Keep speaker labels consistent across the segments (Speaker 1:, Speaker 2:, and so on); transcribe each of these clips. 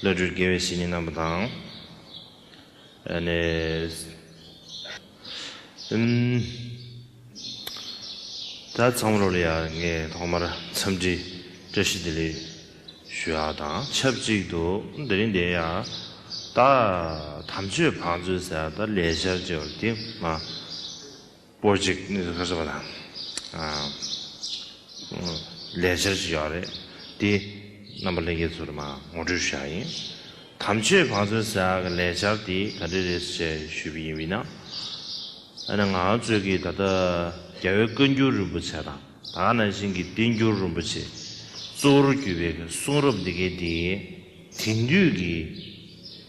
Speaker 1: བློ་གྲོས་དགེ་བའི་བཤེས་གཉེན་རྣམས་དང། ད་ཚང་མར་ལ་ཡང་ངས་ཐོག་མར་འཚམས་འདྲི་བཀྲ་ཤིས་བདེ་ལེགས་ཞུ་ཡག་དང་ཆབས་ཅིག་ཏུ་དེ་རིང་འདི་ཡང་ད་དམ་ཆོས་བང་མཛོད་ཟེར་ཡག་ད་ལས་ཤར་ཅེས་པར་དེ་སྔ་པོ་གཅིག་གནས་ཚུལ་ཁ་གསལ་བ་དང། ལས་འཆར་གཅིག་ཡོད་རེད། དེ་རྣམ་པ་ལྷན་རྒྱས་ཚོགས་འདུ་མ་ངོ་སྤྲོད་ཞུ་ཡག་ཡིན། དམ་ཆོས་བང་མཛོད་ཟེར་ཡག་གི་ལས་འཆར་དེ་ག་འདྲས་རེད་ཟེར་བྱས་ཞུས་པ་ཡིན་བས་ན། ཨ་ན་ང་གཙོས་ཀྱི་ད་ལྟ་རྒྱ་བོད་བཀའ་འགྱུར་རིན་པོ་ཆེ་དང་ད་ནང་བཞིན་གྱི་བསྟན་འགྱུར་རིན་པོ་ཆེ་གཙོ་བོར་གྱུར་པའི་གསུང་རབ་འདི་གའི་དེ་དེང་དུས་ཀྱི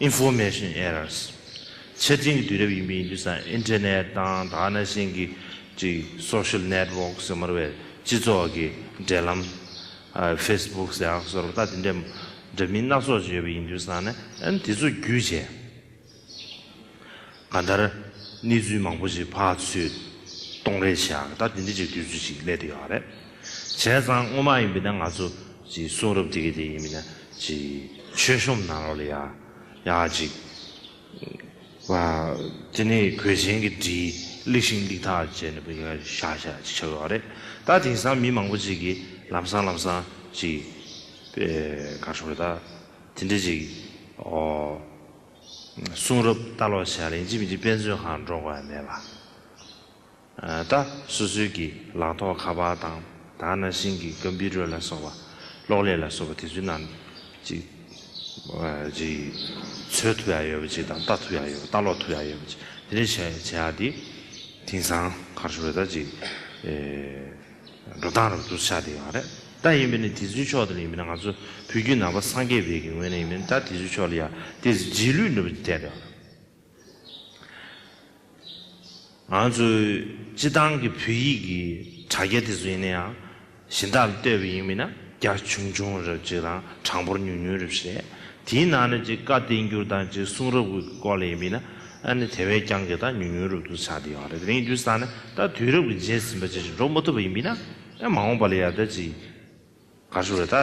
Speaker 1: Information Errors། ཆ་འཕྲིན་གྱི་དུས་རབས་ཡིན་པས་ཡིན་དུས་སམ Internet དང་ད་ནས་བཞིན་གྱི་གཅིག Social Network ཟེར་མར་བའི་སྤྱི་ཚོགས་ཀྱི་འབྲེལ་ལམ། Facebook ཟེར་ཡང་ཟོར་བ་ལྟ་དེ་འདྲའི་འདྲ་མིན་སྣ་ཚོགས་ཅིག་ཡོད་པས་ཡིན་དུས་སམ་ནས་དེ་ཚོ་བརྒྱུད་བྱས། ག་ལྟར། གནས་ཚུལ་མང་པོ་ཞིག་ཕ་ཚོས་གཏོང་རེས་བྱས་ཡག་གི་ད་དེ་འདྲའི་ཅིག་དུས་ཚོད་ཅིག་སླེབས་དེ་ཡག་རེད། བྱས་ཙང་སྔོན་མ་ཡིན་པའི་ན་ང་ཚོ་ཅིག་གསུང་རབ་དེ་གི་དེ་ཡིན་པའི་ན་ཅིག་མཆོད་གཤོམ་གནང་རོགས་ལ་ཡག་ཡག་ཅིག། བ། དེ་ནས་གོས་ཆེན་གི་བྲིས་གླིག་ཤིང་གླིག་ཐག་བཅད་ནས་བུ་ག་ཤག་ཤག་ཅིག་ཆགས་ཡོག་རེད་ད་དེང་སང་མི་མང་པོ་ཅིག་གི་ལམ་སང་ལམ་སང་ཅིག། བེ། ག་ཤོག་རེད་ད་དེ་འདྲའི་ཅིག་ཨོ། གསུང་རབ་ལྟ་ཀློག་བྱས་ལ་ཡིན་གཅིག་མིན་གཅིག་དཔེ་མཚོན་གང་སྒྲོག་པ་མེད་པ། ད་སོ་སོའི་གི་ལག་ཐོག་ཁ་པར་དང་ད་ནང་བཞིན་གི་ཀམ་པི་རོད་ལ་སོགས་པ་གློག་ཀླད་ལ་སོགས་པ་དེ་ཚོའི་ནང་གཅིག་གཅིག་འཚོལ་ཐུབ་ཡག་ཡོད་པ་གཅིག་དང་ལྟ་ཐུབ་ཡག་ཡོད་པ་ལྟ་ཀློག་ཐུབ་ཡག་ཡོད་པ་གཅིག་དེ་འདྲ་བྱས་བྱས་ཡག་དེ་དེང་སང་གར་སོ་བོད་ཟླ་གཅིག་འགྲོ་སྟངས་རབ་ཏུ་ཆགས་བསྡད་ཡོང་བ་རེད་ད། ཡིན་པས་ནི་དེ་ཚོའི་ཕྱོགས་དེ་ལ་ཡིན་པས་ན་ང་ཚོ་བོད་བརྒྱུད་ནང་པ་སངས་རྒྱས་བེད་ཀྱི་ངོས་ནས་ཡིན་པས་ན་ད་དེ་ཚོའི་ཕྱོགས་ལ་ཡག་དེ་རྗེས་ལུས་ནུབ་ཀྱི་ཐད་ལ། ང་ཚོ་སྤྱི་བཏང་གི་བོད་ཡིག་གི་དྲ་རྒྱ་དེ་ཚོ་ཡིན་ན་ཡང་གཞན་དག་ལ་ལྟོས་པས་ཡིན་པས་ན་རྒྱ་ཆུང་ཆུང་རབ་ཅིག་དང་གྲངས་འབོར་ཉུང་ཉུང་རབ་ཞིག་རེད། དེའི་ནང་ནས་ཀྱི་བཀའ་བསྟན་འགྱུར་དང་ཀྱི་གསུང་རབ་ཀྱི་སྐོར་ལས་ཡིན་ན་ནི་དེ་བས་ཀྱང་གི་དང་ཉུང་ཉུང་རུ་བསྡུ་ཆ་དེ་ཡང་རེད་དེ་རིང་དུས་སང་ནི་ད་དུས་རབ་ཀྱི་རྗེས་ཟིན་པ་ཅན་ཞིག་འགྲོ་མ་ཐུབ་པ་ཡིན་པས་ན་ཡང་མ་འོངས་པ་ལ་ཡང་ད་ཀྱི་གར་ཞུ་རེ་ད་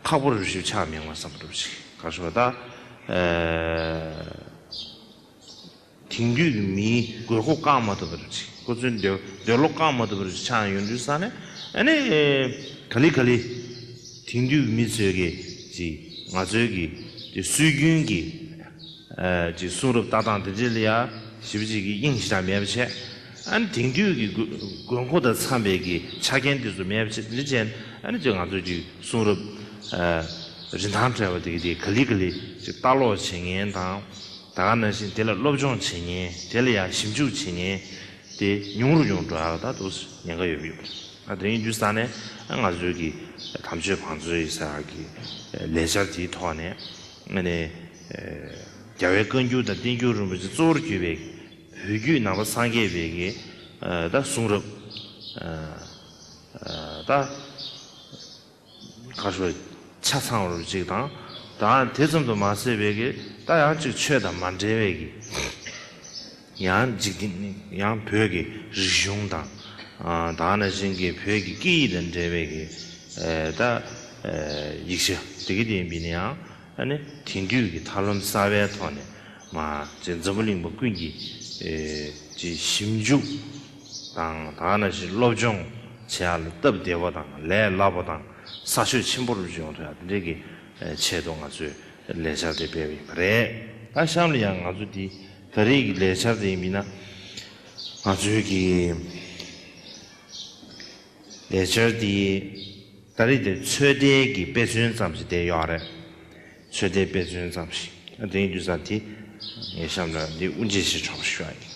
Speaker 1: ཁག་པོ་རུ་ཞིབ་ཆ་མི་ཡོང་བ་བསམ་པ་འགྲུབ་ཅིག་གར་ཞུ་བ་ད། དེང་དུས་ཀྱི་མིའི་དགོས་མཁོ་བསྐང་མ་ཐུབ་པ་རེད། ཁོ་ཚོའི་འདོད་འདོད་བློ་བསྐང་མ་ཐུབ་པ་རེད་ཆགས་ཡོང་དུས་ས་ནས་ཨ་ནི། ག་ལི་ག་ལི། དེང་དུས་ཀྱི་མི་ཚོས་ཀྱི་ཀྱི་ང་ཚོའི་ཀྱི་ཀྱི་སྲོལ་རྒྱུན་གྱི་ཀྱི་གསུང་རབ་ལྟ་སྟངས་དེ་འདྲས་ལ་ཡ་ཞི་བྱེད་ཀྱི་དབྱིངས་གཞི་དང་མེད་པ་བྱས། ཨ་ནི་དེང་དུས་ཀྱི་དགོས་དགོས་མཁོ་དང་འཚམས་པའི་ཀྱི་ཆ་རྐྱེན་དེ་ཚོ་མེད་པ་བྱས་འདྲས་བྱས་ནས་ཨ་ནི་ཀྱི་ང་ཚོའི་ཀྱི་གསུང་རབ་རིན་ཐང་བྲལ་བ་དེ་ཀྱི་དེ་ག་ལི་ག་ལི་ཀྱི་ལྟ་ཀློག་བྱེད་མཁན་དང། ད་ག་ནང་བཞིན་དེ་ལ་སློབ་སྦྱོང་བྱེད་ཉེན་དེ་ལ་ཡང་ཞིབ་འཇུག་བྱེད་ཉེན་དེ་ཉུང་རུ་ཡོང་འགྲོ་ཨ་ད་དུ་ཉེན་ཁ་ཡོད་ཡོད་པ་རེད་དོན་ཡིན་རྒྱུ་ས་ནས་ང་ཚོའི་གི་དམ་ཆོས་བང་མཛོད་ཡི་ས་གི་ལས་འཆར་དེའི་ཐོག་ནས་ཨ་ནི་རྒྱ་བའི་བཀའ་འགྱུར་དང་བསྟན་འགྱུར་རིན་པོ་ཆེ་གཙོ་བོར་གྱུར་པའི་བོད་བརྒྱུད་ནང་པ་སངས་རྒྱས་པའི་གི་ཨ་ད་གསུང་རབ་ཨ་ད། ག་ཤོ་ཆ་ཚང་བར་གཅིག་དང། དང་དེ་ཙམ་དུ་མ་ཟད་བས་ཀྱི་རྟགས་ཡང་གཅིག་ཆོས་དང་མ་འབྲེལ་བས་ཀྱི། ཡང་འཇིག་རྟེན་ཡང་བོད་ཀྱི་རིག་གཞུང་དང། དང་ནི་བཞིན་གྱི་བོད་ཀྱི་སྐད་ཡིག་དང་འབྲེལ་བས་ཀྱི། ད། ཡིག་ཆ་དེ་ཀ་དེ་ཡིན་པས་ནི་ཡང་ནི་དེང་དུས་ཀྱི་ཐབས་ལམ་གསར་བའི་ཐོག་ནས། མ་ཅིག་འཛམ་བུ་གླིང་པ་ཀུན་གྱིས། ཀྱི་ཞིབ་འཇུག། དང་ད་ནང་བཞིན་སློབ་སྦྱོང་བྱེད་ཡག་ལ་སྟབས་བདེ་བ་དང་ལས་སླ་བ་དང་ས་ཆོད་ཆེན་པོར་སྦྱོང་ཐུབ་ཡག་དེ་འདྲའི་གི་ཆེད་དུ་ང་ཚོས་ལས་འཆར་དེ་སྤེལ་བ་ཡིན་པ་རེད། ད་གཤམ་ལ་ཡང་ང་ཚོ་འདི་ད་རེས་ཀྱི་ལས་འཆར་དེ་མིན་ན་ང་ཚོའི་གི་ལས་འཆར་དེ་ད་རེས་དེ་ཚོད་ལྟའི་གི་དཔེ་མཚོན་ཙམ་ཞིག་བསྡད་ཡོད་རེད། ཚོད་ལྟའི་དཔེ་མཚོན་ཙམ་ཞིག་དེའི་རྒྱུ་ས་དེ་ངས་གཤམ་ལ་འདི་དབུ་འབྱེད་བྱེད་ཆོག་པ་ཞུ་ཡག་ཡིན།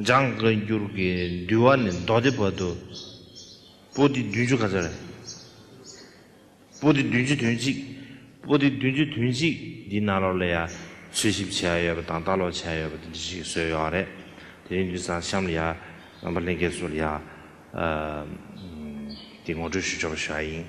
Speaker 1: ལྗང་གི་འགྱུར་གྱི་འདུལ་བ་ནི་མདོ་སྡེ་བར་དུ། པོ་ཏི་བདུན་ཅུ་ག་ཚོད་རེད། པོ་ཏི་བདུན་ཅུ་དོན་གཅིག། པོ་ཏི་བདུན་ཅུ་དོན་གཅིག་འདིའི་ནང་ལོགས་ལ་ཡང་འཚོལ་ཞིབ་བྱས་ཡོད་པ་དང་ལྟ་ཀློག་བྱས་ཡོད་པ་དེ་འདྲ་ཞིག་བཟོས་ཡོད་རེད། དེ་རིང་དུས་སང་གཤམ་ལ་ཡང་རྣམ་པ་ལྷན་རྒྱས་ཚོ་ལ་ཡང་དེ་ངོ་སྤྲོད་ཞུ་ཆོག་པ་ཞུ་ཡ་ཡིན།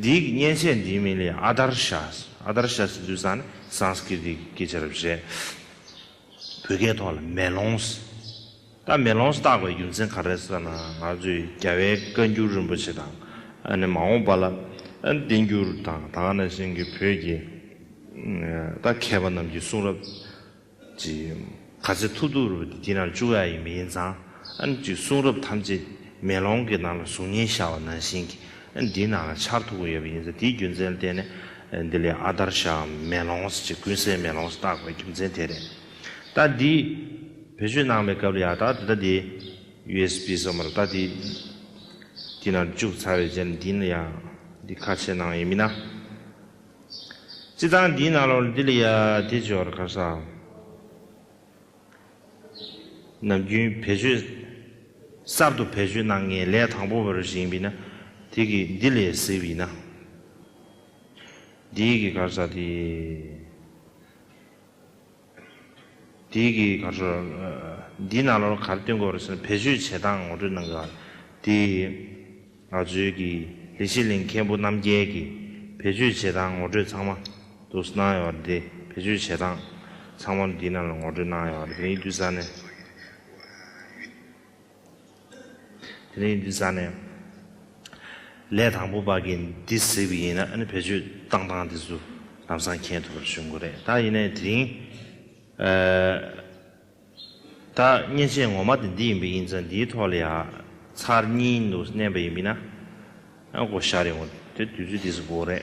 Speaker 1: འདིའི་གཉེན་བཤད་འདིའི་མིང་ལས་ཨ་དར་ཤཱས་ཨ་དར་ཤཱས་ཟེར་དུས་ས་ནི Sanskriti གི་སྐད་ཆ་རེད་བཤད། བོད་སྐད་ཐོག་ལ་མེ་ལོངས་རྟགས་མེ་ལོངས་རྟགས་པའི་རྒྱུ་མཚན་ག་རེ་ཟེར་ན་ང་ཚོས་རྒྱ་བལ་བཀའ་འགྱུར་རིན་པོ་ཆེ་དང་ཨ་ནི་མ་འོངས་པ་ལ་བསྟན་འགྱུར་དང་ད་ག་ན་བཞིན་གྱི་བོད་ཀྱི་རྟགས་མཁས་པ་རྣམས་ཀྱི་གསུང་རབས་ཅིག། ག་ཚད་ཐུག་ཐུག་རུ་འདི་ན་བཅུག་ཡ་ཡི་མི་ཡིན་ཙང་ཨ་ནི་ཅིག་གསུང་རབ་ཐམས་ཅད་མེ་ལོང་གི་ནང་ལ་གཟུགས་བརྙན་ཤར་བ་ནང་བཞིན་གྱི་ཨ་ནི་འདིའི་ནང་ལ་འཆར་ཐུག་གི་ཡོད་པ་ཡིན་ཙང་དེའི་རྒྱུ་མཚན་བསྟན་ནས་འདི་ལས་ཨ་དར་ཤའམ་མེ་ལོངས་ཅིག་ཀུན་གསལ་མེ་ལོངས་བཏགས་པའི་རྒྱུ་མཚན་དེ་རེད། ད་འདི་བེད་སྤྱོད་གནང་བའི་སྐབས་ལ་ཡག་ད་དེ་ད་དེ usb སོགས་མ་རུ་ད་དེ་འདི་ན་བཅུག་ཚར་བའི་རྗེས་ལ་འདི་ན་ཡང་འདི་ཁ་ཕྱེ་གནང་ཡས་མིན་ན། ཅི་དང་འདིའི་ན་ལོར་འདི་ལ་ཡ་དེ་སྦྱོར་གར་ས་ནམ་རྒྱུན་བེད་སྤྱོད། གསར་དུ་བེད་སྤྱོད་གནང་མཁན་ལས་དང་པོ་བར་ཞིག་ཡིན་པས་ན་དེ་གི་འདི་ལས་གཟིགས་པས་ན། འདིའི་གི་གར་ས་དེ། དེའི་གི་གར་སོ། འདིའི་ནང་ལོར་གར་བསྟུན་དགོས་རེད་ཟེར་ནས་བེད་སྤྱོད་བྱེད་སྟངས་ངོ་སྤྲོད་གནང་གི། དེ་ང་ཚོའི་གི་ལི་ཤི་ལིང་མཁན་པོ་རྣམ་རྒྱལ་གི་བེད་སྤྱོད་བྱེད་སྟངས་ངོ་སྤྲོད་ཚང་མ་དུ་སུ་གནང་ཡོད་རེད་དེ་བེད་སྤྱོད་བྱེད་སྟངས་ཚང་མ་འདིའི་ནང་ལ་ངོ་སྤྲོད་གནང་ཡོད་རེད་དེ་ནས་ཡིག་འབྲུ་ས་ནས། དེ་རིང་འདི་ཟ་ནས། ལས་དང་པོ་བར་གྱི་འདི་གཟིགས་པ་ཡིན་ན་ཨ་ནི་བེད་སྤྱོད་བཏང་སྟངས་དེ་ཚོ་ལམ་སང་མཁྱེན་ཐུབ་པར་ཞུ་འགོ་རེད་ད་ཡིན་ནས་དེ་རིང། ད་བརྙན་ཆས་ངོ་མ་དེ་འདི་ཡིན་པ་ཡིན་ཙང་འདིའི་ཐོག་ལ་ཡ་མཚར་གཉིས་འདུག་བསྣན་པ་ཡིན་པས་ན། ཨ་སྒོ་ཤར་ཡོང་དེ་དུས་ཚོད་འདི་ཟིག་འགོ་རེད།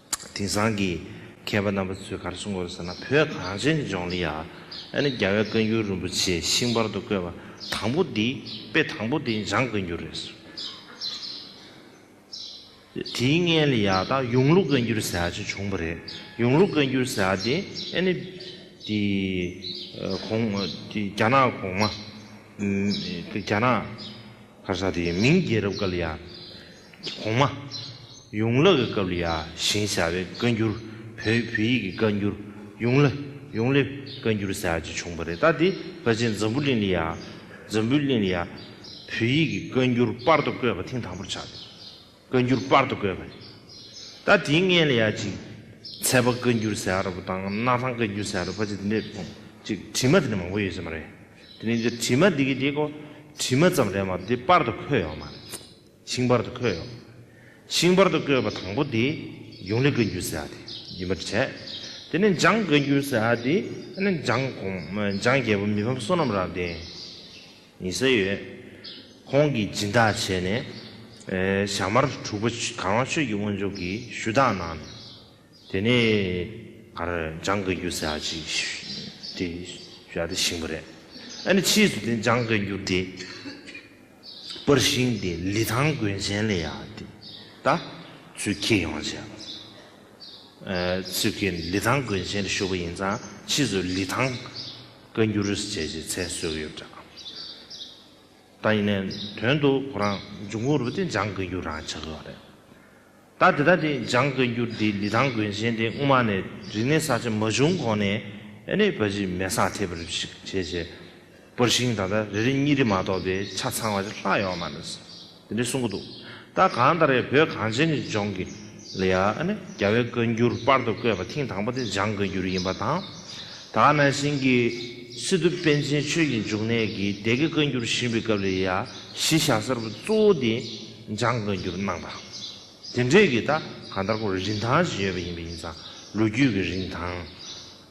Speaker 1: དེང་སང་གི་མཁས་པ་རྣམ་པ་ཚོས་གར་སོང་གོ་ཟེར་ན་བོད་གངས་ཅན་གྱི་ལྗོངས་ལ་ཡ་ཨ་ནི་རྒྱལ་བའི་བཀའ་འགྱུར་རིན་པོ་ཆེ་ཤིང་པར་དུ་བརྐོས་པ་དང་པོ་འདི་དཔེ་དང་པོ་འདི་འཇང་བཀའ་འགྱུར་རེད། དེའི་མངལ་ལས་ཡ་ད་ཡུང་ལུགས་བཀའ་འགྱུར་ཟེར་བ་ཅིག་བྱུང་པ་རེད་ཡུང་ལུགས་བཀའ་འགྱུར་ཟེར་བ་དེ་ཨ་ནི་དེ་གོང་རྒྱ་ནག་གོང་མ་རྒྱ་ནག་ཁར་ས་དེའི་མིང་རྒྱལ་རབས་སྐབས་ལ་ཡ། གོང་མ། ཡུང་ལག་གི་སྐབས་ལ་ཡ་ཞིང་བྱ་བའི་བཀའ་འགྱུར་བོད་བོད་ཡིག་གི་བཀའ་འགྱུར་ཡུང་ལ་ཡུང་ལེ་བཀའ་འགྱུར་ཟེར་བ་ཅིག་བྱུང་བ་རེད་ད་དེ་བཀའ་ཆེན་འཛམ་བུ་གླིང་ལ་ཡ། འཛམ་བུའི་གླིང་ལ་ཡ། བོད་ཡིག་གི་བཀའ་འགྱུར་སྤར་དུ་བཀོད་པ་ཐེངས་དང་པོར་ཆགས་ཡོད། བཀའ་འགྱུར་སྤར་དུ་བཀོད་པ་ཡིན། ད་དེའི་མངལ་ཡ་གཅིག། ཚལ་པ་བཀའ་འགྱུར་ཟེར་ར་བ་དང་སྣ་ཐང་བཀའ་འགྱུར་ཟེར་ར་བ་ཅིག་འདི་འདྲ་ཅིག་བྲིས་མ་དེ་འདྲ་མང་པོ་ཡོད་ས་མ་རེད། དེ་ནས་འདིར་བྲིས་མ་འདི་གི་དེ་གོ། བྲིས་མ་ཙམ་རེད་མ་འདི་སྤར་དུ་འཁོད་ཡོད་མ་རེད། ཤིང་སྤར་དུ་འཁོད་ཡོད། ཤིང་སྤར་དུ་བཀོད་པ་དང་པོ་དེ་ཡུང་ལི་བཀའ་འགྱུར་ཟེར་བ་དེ་ཡིན་པར་བྱས། དེ་ནས་འཇང་བཀའ་འགྱུར་ཟེར་བ་དེ་ནི་འཇང་གོང་འཇང་རྒྱལ་པོ་མི་ཕམ་བསོད་ནམས་རབ་བརྟན། ཡིན་ས་ཡོད། ཁོང་གིས་སྦྱིན་བདག་བྱས་ནས། ཞྭ་དམར་དྲུག་པ་གངས་ལྷ་ཆོས་ཀྱི་དབོན་མཆོག་གིས་ཞུ་དག་གནང་ནས། དེ་ནས་གར་འཇང་དགའ་འགྱུར་ཟེར་བ་ཞིག་དེ་ཞུ་དག་བཞེངས་པ་རེད། ཨ་ནི་ཕྱིས་སུ་དེ་འཇང་དགའ་འགྱུར་དེ་པར་བཞེངས་ཏེ་ལི་ཐང་དགོན་ཆེན་ལ་ཡང་དེ་ད་ཚུལ་ཁེ་ཡོང་བྱས་པ་རེད། ཚུལ་ཁེ་ནི་ལི་ཐང་དགོན་ཆེན་ལ་བཞུགས་པ་ཡིན་ཙང་ཕྱིས་སུ་ལི་ཐང། བཀའ་འགྱུར་རིས་བཅད་ཀྱི་མཚན་གསོལ་གྱི་ཡོད་འདྲ། ད་ཡིན་ནས་དོན་དུ་ཁོ་རང་འབྱུང་ཁུངས་རུ་དེ་འཇང་བཀའ་འགྱུར་རང་ཆགས་ཡོད་རེད། ད་དེ་ལྟ་དེ་འཇང་བཀའ་འགྱུར་འདི་ལི་ཐང་དགོན་ཆེན་དེ་སྔོན་མ་ནས་རིག་གནས་གསར་བརྗེ་མ་བྱུང་གོང་ནས་ཨེ་ནས་བ་ཇི་མེ་སག་ཐེབས་རིབ་ཞིག་བྱས་བྱས་པར་ཞིང་ད་ལྟ་རེ་རེ་གཉིས་རེ་མ་གཏོགས་པའི་ཆ་ཚང་བ་ཅིག་ལྷག་ཡོད་མ་རེད། དེ་འདྲས་གསུང་གི་འདུག་ད་གང་ལྟར་ཡང་བོད་གངས་ཅན་གྱི་ལྗོངས་ཀྱི་ལ་ཡ་ནི་རྒྱ་བའི་བཀའ་འགྱུར་དཔར་དུ་བཀོད་པ་ཐེངས་དང་པོ་དེ་འཇང་བཀའ་འགྱུར་ཡིན་པ་དང། ད་ག་ནང་བཞིན་གྱི་སི་ཏུ་པཎ་ཆེན་ཆོས་ཀྱི་འབྱུང་གནས་ཀྱིས་སྡེ་དགེ་བཀའ་འགྱུར་བཞེངས་པའི་སྐབས་ལ་ཡ་གཞི་བཞག་གསར་བུ་གཙོ་བོ་དེ་འཇང་བཀའ་འགྱུར་གནང་པ་དེ་འདྲས་ཀྱི་ད་གང་ལྟར་གོ་རིན་ཐང་ཞིག་ཡོད་པ་ཡིན་པ་ཡིན་ཙང་ལོ་རྒྱུས་ཀྱི་རིན་ཐང་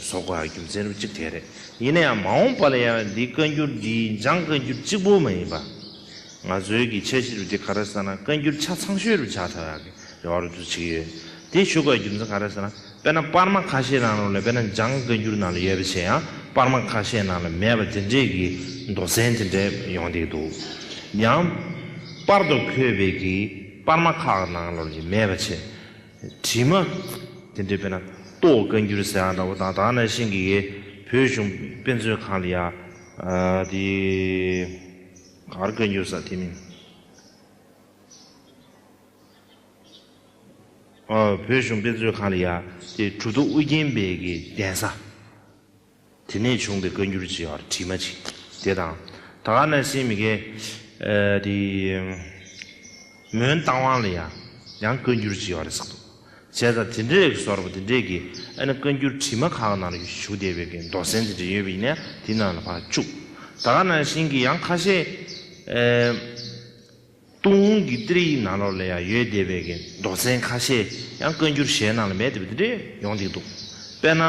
Speaker 1: སོགས་པ་རྒྱུ་མཚན་རིམ་གཅིག་དེ་རེད། ཡིན་ན་ཡང་མ་འོངས་པ་ལ་ཡང་འདི་བཀའ་འགྱུར་འདིའི་འཇང་བཀའ་འགྱུར་གཅིག་པོ་མ་ཡིན་པ། ང་ཚོའི་གི་འཆད་གཞི་རུ་འདི་ག་རེ་ཟེར་ན་བཀའ་འགྱུར་ཆ་ཚང་ཤོས་རུ་ཆགས་ཆགས་ཀྱི་རེ་བ་རུ་དུ་བྱེད་ཀྱི་ཡོད། དེ་བཞུགས་པའི་རྒྱུ་མཚན་ག་རེ་ཟེར་ན་དཔེར་ན་པར་མ་ཁ་ཤས་ནང་ལ་དཔེར་ན་འཇང་བཀའ་འགྱུར་ནང་ལ་ཡོད་པ་ཆེ་ཡང་པར་མ་ཁ་ཤས་ནང་ལ་མེད་པ་དེ་འདྲའི་གི་མདོ་གཟན་དེ་འདྲ་ཡོང་སྡད་འདུག་ཡང། པར་དུ་འཁོད་པའི་གི་པར་མ་ཁག་ནང་ལོར་གྱི་མེད་པ་ཆེ། དྲི་མ། དེ་འདྲའི་དཔེར་ན་ཏོག་བཀའ་འགྱུར་ཟེར་ཡང་འདྲ་བོ་དང་དག་ན་ཤིང་གི་ཡས་བོད་གཞུང་དཔེ་མཛོད་ཁང་ལ་ཡང། དེ། གར་བཀའ་འགྱུར་ཟེར་དེ་མིན། བོད་གཞུང་དཔེ་མཛོད་ཁང་ལ་ཡང་དེ་གྲུ་ཐོག་ཨུ་རྒྱན་པའི་གདན་ས། དེ་ནས་བྱུང་བའི་བཀའ་འགྱུར་གྱི་བར་བྲིས་མ་ཅིག་དེ་དང། ད་ག་ན་སིན་མི་ཀའི་དེ། མོན་རྟ་དབང་ལ་ཡང་ཡང་བཀའ་འགྱུར་གྱི་བར་ཟག་འདུག་བྱས་ཙང་དེ་འདྲའི་རིགས་སོར་མོ་དེ་འདྲས་ཀྱི་ཨ་ན་བཀའ་འགྱུར་བྲིས་མ་ཁག་ནང་ལ་བཞུགས་བསྡད་པའི་ཀྱི་མདོ་གཟན་དེ་འདྲས་ཡོད་པ་ཡིན་ན་དེ་ནང་ལ་བར་བཅུག། ད་ག་ན་སིན་གྱི་ཡང་ཁ་ཤས། ཏུང་ཧོང་གི་ཏིར་ཡིག་ནང་ལོར་ལས་ཡང་ཡོད་བསྡད་པའི་གི་མདོག་ཚན་ཁ་ཤས་ཡང་བཀའ་འགྱུར་གཞན་ནང་ལ་མེད་བསྡད་པ་འདི་འདྲས་ཡོང་བསྡད་འདུག་དཔེར་ན།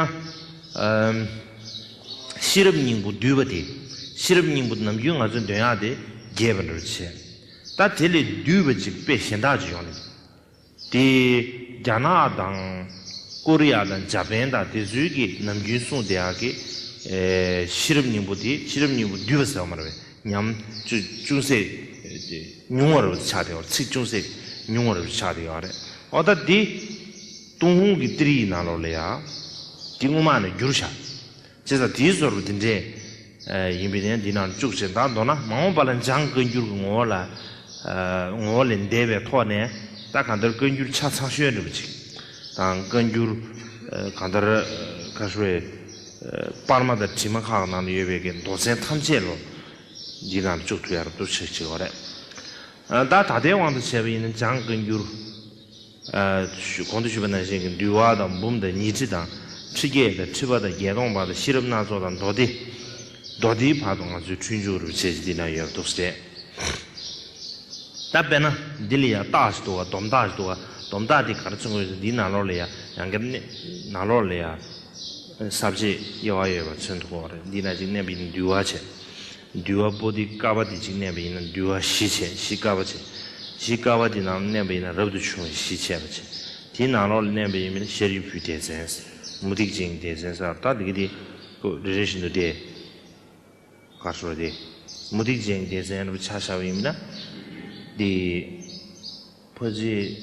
Speaker 1: ཤེས་རབ་སྙིང་པོ་འདུལ་བ་དེ། ཤེས་རབ་སྙིང་པོ་ནམ་རྒྱུན་ང་ཚོས་འདོན་ཡག་དེ་རྒྱས་པ་འགྲོ་རུ་ཆེ། ད་དེ་ལས་བསྡུས་པ་ཅིག་དཔེ་གཞན་དག་ཅིག་ཡོང་བསྡད་འདུག་དེས་རྒྱ་ནག་དང། ཀོ་རི་ཡ་དང་འཇའ་པན་དང་དེ་ཚུལ་གྱི་ནམ་རྒྱུན་སྲུང་དེ་ཡག་གི། ཤེས་རབ་སྙིང་པོ་དེ་ཤེས་རབ་སྙིང་པོ་འདུས་པ་ཟེར་བ་མ་རེད་པས་ཉམས། ཅུང་ཟད་ཉུང་བ་རེད་པ་ཆགས་བསྡད་ཚིག་ཅུང་ཟད་ཉུང་བ་རེད་པ་ཆགས་བསྡད་ཡོད་རེད། འོ་ད་འདི། ཏུང་ཧོང་གི་ཏིར་ཡིག་ནང་ལོགས་ལས་ཡ། འདི་སྔོན་མ་ནས་བསྒྱུར་བཞག། བྱས་ཙང་དེའི་ཟོར་འདི་འདྲས་ཡིན་པས་ནི་འདི་ནང་དུ་བཅུག་ཅིང་དང་མདོར་ན་མ་འོངས་པ་ལ་འཇང་བཀའ་འགྱུར་གྱི་ངོ་བོ་ལས་འདས་པའི་ཐོག་ནས་ད་གང་ལྟར་བཀའ་འགྱུར་ཆ་ཚང་ཤོད་འདྲི་པ་ཅིག་དང་བཀའ་འགྱུར་གང་ལྟར་ཁ་ཧྲི་བའི་པར་མ་དང་བྲིས་མ་ཁག་ནང་དུ་ཡོད་པའི་མདོ་ཚན་ཐམས་ཅད་ལོ་འདིའི་ནང་དུ་བཅུག་ཐུབ་ཡག་རབ་ཏུ་ཆགས་ཅིག་ཨོ་རེད། ད་ད་ལྟའི་དབང་དུ་བྱས་པ་ཡིན་ན་འཇང་བཀའ་འགྱུར། གོང་དུ་ཞུས་པ་ནང་བཞིན་གྱི་འདུལ་བ་དང་འབུམ་དང་ཉི་ཁྲི་དང་ཁྲི་བརྒྱད་དང་ཁྲི་པ་དང་བརྒྱད་སྟོང་བར་དང་ཤེས་རབ་སྣ་ཚོགས་དང་མདོ་སྡེ། མདོ་སྡེའི་བར་དུ་ང་ཚོའི་འཁྲུལ་འབྱུང་རུ་བྱེད་ཅིག་འདི་ན་ཡོད་འདུག་ཟེར། ད་དཔེར་ན་འདི་ལ་ཡང་བཏགས་ཞིག་འདུག་བ་དོམ་བཏགས་ཞིག་འདུག་བ་དོམ་བཏགས་དེ་ག་རེ་ཚུགས་དགོས་ཟེར་འདིའི་ནང་ལོགས་ལ་ཡང་གེར་གནས་ནང་ལོགས་ལ་ཡང་ཟབ་ཆས་དབྱེ་བ་ཡོད་པ་ཚོད་འདུག་གོ་འདི་ན་ཅིག་གནས་པ་ཡིན་འདུལ་བ་བྱེད། འདུལ་བ་པོ་ཏི་ཀ་བ་ཏི་གཅིག་གནས་པ་ཡིན་ན་འདུལ་བ་བཞི་བྱས་བཞི་ཀ་བ་བྱས། བཞི་ཀ་བ་ཏི་ནང་ལ་གནས་པ་ཡིན་ན་རབ་ཏུ་བྱུང་བ་བཞི་བྱས་པ་བྱས། དེའི་ནང་ལོགས་ལ་གནས་པ་ཡིན་པས་ན་ཤེར་ཡུལ་བུའི་སྡེ་ཚན། མུ་སྟེགས་ཅན་གྱི་སྡེ་ཚན་སར་ལྟ་དེ་ཀ་ཏི་པོ་རེ་རེ་བཞིན་དུ་སྟེ། གར་སོང་བ་སྟེ། མུ་སྟེགས་ཅན་གྱི་སྡེ་ཚན་རུ་བྱ་བྱ་བ་ཡིན་པས་ན། དེའི། བོད་རྗེ།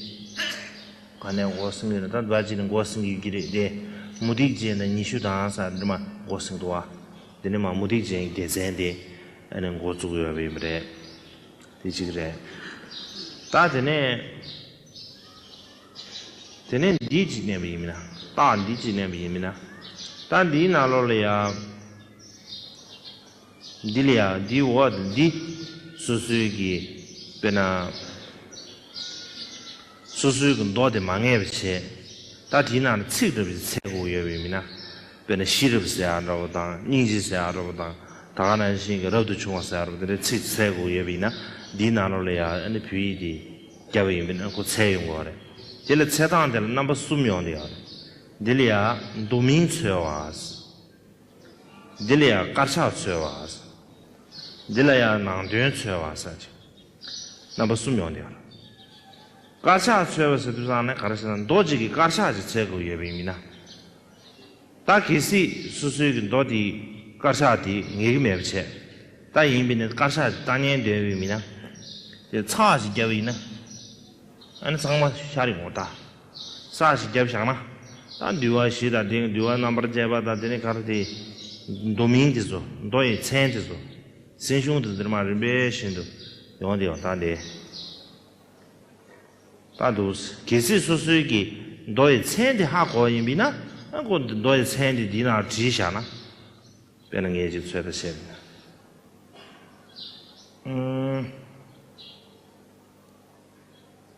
Speaker 1: ག་ནས་འགོ་སྲིང་གི་རེད་ད་བོད་རྗེ་ནས་འགོ་སྲིང་གི་གི་རེད་དེ། མུ་ཏིག་རྗེ་ནས་ཉི་ཤུ་དང་ས་འདི་མ་འགོ་སྲིང་འདུག་བ། དེ་ནས་མ་མུ་ཏིག་རྗེ་ཡི་སྡེ་ཚན་དེ་ཨ་ནས་འགོ་བཙུགས་ཡོད་པ་ཡིན་པ་རེད། དེ་གཅིག་རེད། ད་དེ་ནས། དེ་ནས་འདི་གཅིག་གནས་པ་ཡིན་མིན་ན། ད་འདི་གཅིག་གནས་པ་ཡིན་མིན་ན། ད་འདིའི་ནང་ལོགས་ལ་ཡ། འདི་ལ་ཡང་འདི་འོག་ཏུ་འདི་སོ་སོའི་གི་དཔེར་ན། སོ་སོའི་གི་མདོ་དེ་མ་ངེས་པར་བྱེད། ད་དེའི་ནང་ནས་ཚིག་སྒྲུབ་བྱེད་ཚད་དགུ་ཡོད་པའི་མི་ན། དཔེར་ན་ཤེས་རབ་ཟེར་ཡག་འདྲ་བོ་དང་སྙིང་རྗེ་ཟེར་ཡག་འདྲ་བོ་དང་ད་ག་ནང་བཞིན་གི་རབ་ཏུ་བྱུང་བ་ཟེར་ཡག་འདྲ་བོ་དེ་འདྲའི་ཚིག་ཚད་དགུ་ཡོད་པ་ཡིན་ན་འདིའི་ནང་ལོ་ལ་ཡང་ཨ་ནི་བོད་ཡིག་དེ་རྒྱབ་པ་ཡིན་པས་ན་གོ་ཚད་ཡོད་དགོས་བ་རེད། དེ་ལ་ཚད་སྟངས་དེ་ལ་རྣམ་པ་གསུམ་ཡོང་དུ་ཡག་རེད། འདི་ལ་ཡང་མདོ་མིང་འཚོལ་བ། འདི་ལ་ཡང་དཀར་ཆག་འཚོལ་བ། འདི་ལ་ཡང་ནང་དོན་འཚོལ་བ་སོགས་ཀྱི་རྣམ་པ་གསུམ་ཡོང་སྡད། དཀར་ཆག་འཚོལ་བ་ཟེར་དུས་བཟང་ནི་ག་རེ་ཟེར་ན་མདོ་གཅིག་གི་དཀར་ཆག་ཅིག་འཚོལ་དགོས་ཡོད་པའི་མི་སྣ་ལྟ། གལ་སྲིད་སོ་སོའི་གི་མདོ་དེའི་དཀར་ཆག་དེ་ངེས་ཀྱི་མེད་པ་བྱས་ལྟ་ཡིན་པས་ནི་དཀར་ཆག་ཅིག་ལྟ་ཉན་འདོད་པའི་མི་སྣ་དེ་ཚགས་ཅིག་བརྒྱབ་ཡིན་ན་ཨ་ནི་ཚང་མ་ཤར་ཡོང་ལྟ། ས་ཞིག་རྒྱབ་བཞག་ན། ད་འདུལ་བ་བཞི་དང་དེ་འདུལ་བ་རྣམ་པར་བཅད་པ་དང་དེ་ནི་གར་དེའི། མདོ་མིང་དེ་ཚོ་མདོ་ཡི་མཚན་དེ་ཚོ། སྲིང་གཞུང་དུ་འདིར་མ་རིམ་པས་བཞིན་དུ་ཡོང་སྟེ་ཡང་དག་འདི། ལྟར་འདུག། གལ་སྲིད་སོ་སོའི་གི་མདོ་ཡི་མཚན་དེ་ཧ་གོ་བ་ཡིན་པས་ན། ཨ་ཁོ་འདི་མདོ་ཡི་མཚན་དེ་འདི་ན་བྲིས་བཞག་ན། དཔེར་ན་ངེད་ཅིག་ཚོད་ལྟ་བྱས་པས་ན།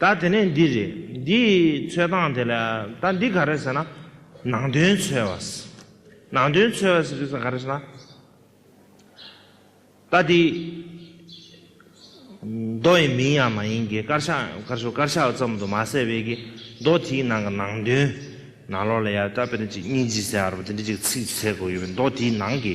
Speaker 1: ད་དེ་ནས་འདི་རེད། འདི་ཡི་འཚོལ་སྟངས་དེ་ལ། ད་འདི་ག་རེད་ཟེར་ན། ནང་དོན་འཚོལ་བ། ནང་དོན་འཚོལ་བ་ཟེར་ན་ག་རེད་ཟེར་ན། ད་འདི། མདོ་ཡི་མིང་ཡང་མ་ཡིན་གི་དཀར་ཆག་དཀར་ཆུ་དཀར་ཆག་ཙམ་དུ་མ་ཟད་པའི་གི་མདོ་དེའི་ནང་གི་ནང་དོན། ནང་ལོགས་ལ་ཡང་ད་དཔེར་ན་གཅིག་གཉིས་བཞི་ཟེར་བ་རེད་པ་དེ་འདྲའི་ཅིག་ཚིག་བྱེད་དགོས་ཀྱི་མེད་མདོ་དེའི་ནང་གི།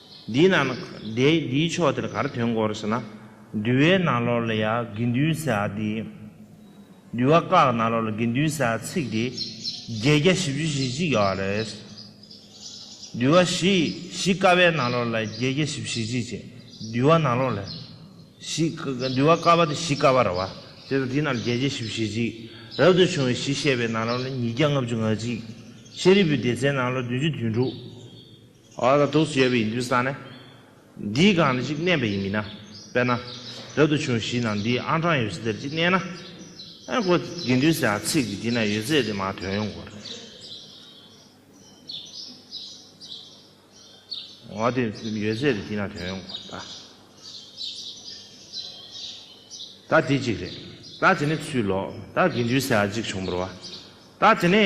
Speaker 1: འདི་ན་ནི་འདི་འདིའི་ཕྱོགས་དེར་གར་དོན་གོ་རེ་ཟེར་ན། འདུལ་བའི་ན་ལོར་ལ་ཡ་གི་འདུལ་ཟེར་ཨ་དེ། འདུལ་བ་བཀའ་གི་ན་ལོར་ལ་གི་འདུལ་ཟེར་ཨ་ཚིག་དེ། བརྒྱད་བརྒྱ་བཞི་བཅུ་བཞི་གཅིག་ཡོད་རེད། འདུལ་བ་བཞི་བཞི་བཀའ་བའི་ན་ལོར་ལ་བརྒྱད་བརྒྱ་བཞི་བཞི་གཅིག་བྱས། འདུལ་བ་ན་ལོར་ལ། བཞི། འདུལ་བ་བཀའ་བ་དེ་བཞི་བཀའ་བ་ར་བ། དེ་ལ་དེ་ན་ལ་བརྒྱད་བརྒྱ་བཞི་བཞི་གཅིག། རབ་ཏུ་བྱུང་བའི་བཞི་བཤད་པའི་ན་ལོར་ལ་ཉིས་བརྒྱ་ལྔ་བཅུ་ང་གཅིག། ཤཱ་རིའི་བུའི་སྡེ་ཚན་ན་ལོར་བདུན་བཅུ་དོན་དྲུག། ཨ་ར་དུག་སུ་ཡོད་པའི་ཡིན་དུས་ས་ནི་འདིའི་སྒང་ནས་ཅིག་གནས་པ་ཡིན་མིན་ན། དཔེར་ན། རབ་ཏུ་བྱུང་གཞིས་ནང་འདིའི་ཨང་གྲངས་ཡོད་ས་དེར་ཅིག་གནས་ན། ཨེ་གོ། དགེ་འདུན་ཟེར་བ་ཚིག་གི་དེ་ན་ཡོད་ཚད་དེ་མ་དོན་ཡོང་གོ། ཡོད་ཚད་དེ་དེ་ན་དོན་ཡོང་གོ། ད་དེ་གཅིག་རེད། ད་དེ་ནི་ཚུལ་ལོག། ད་དགེ་འདུན་ཟེར་བ་ཅིག་བྱུང་བར་བ། ད་དེ་ནི།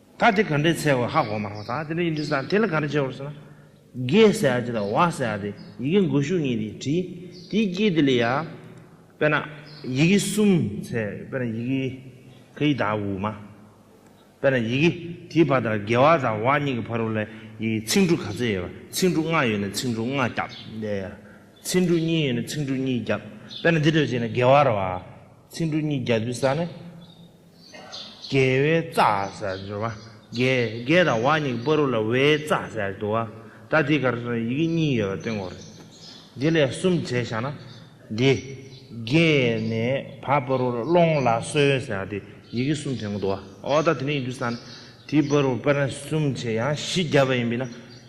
Speaker 1: ད་དེ་ག་འདྲའི་ཚད་བོ་ཧ་གོ་མ་རང་ད་དེ་འདྲའི་ཡིན་དུས་ད་དེ་ལ་ག་རེ་བྱེད་བོར་ཟེར་ན། རྒས་ཟེར་ཡ་དེ་དང་བ་ཟེར་ཡ་དེ་ཡི་གེ་འགོད་ཤུགས་ངེས་དེ་བྲིས་དེའི་དཀྱིལ་དེ་ལས་ཡ། དཔེར་ན། ཡི་གེ་གསུམ་ཚད་དཔེར་ན་ཡི་གེ་ཁ་ཡི་དག་དབུ་མ། དཔེར་ན་ཡི་གེ་དེའི་བར་དང་རྒས་བ་དང་བ་གཉིས་ཀྱི་བར་དབུ་ལ་ཡི་གེ་ཚིག་འབྲུ་ག་ཚོད་ཡོད་པ་ཚིག་འབྲུ་ལྔ་ཡོད་ན་ཚིག་འབྲུ་ལྔ་རྒྱབ་ལས་ཡ། ཚིག་འབྲུ་གཉིས་ཡོད་ན་ཚིག་འབྲུ་གཉིས་རྒྱབ་དཔེར་ན་དེ་འདྲ་བྱས་ན་རྒས་བར་བ། ཚིག་འབྲུ་གཉིས་རྒྱབ་དུས་ད་ནི། རྒྱལ་བའི་རྩ་ཟེར་བར་འགྱུར། རྒྱལ་དང་བ་གཉིས་ཀྱི་པོ་རུ་ལ་བའི་རྩ་ཟེར་བར་འགྱུར། སྒྲ་དེའི་གར་སོགས་ཡི་གེ་གཉིས་ཡོད་པར་བསྟན་གོ། འདི་ལས་གསུམ་བྱས་བཞག་ན། འདི། རྒྱལ་ནས་བ་པོ་རུ་ལ་སློང་ལ་གསོལ་ཟེར་བ་དེ་ཡི་གེ་གསུམ་བསྟན་གོ། འོ་ད་དེ་ནས་ཡིན་དུས་ས་ན་དེའི་པོ་རུ་པོ་རན་གསུམ་བྱས་ཡང་བཞི་བརྒྱ་པ་ཡིན་པས་ན།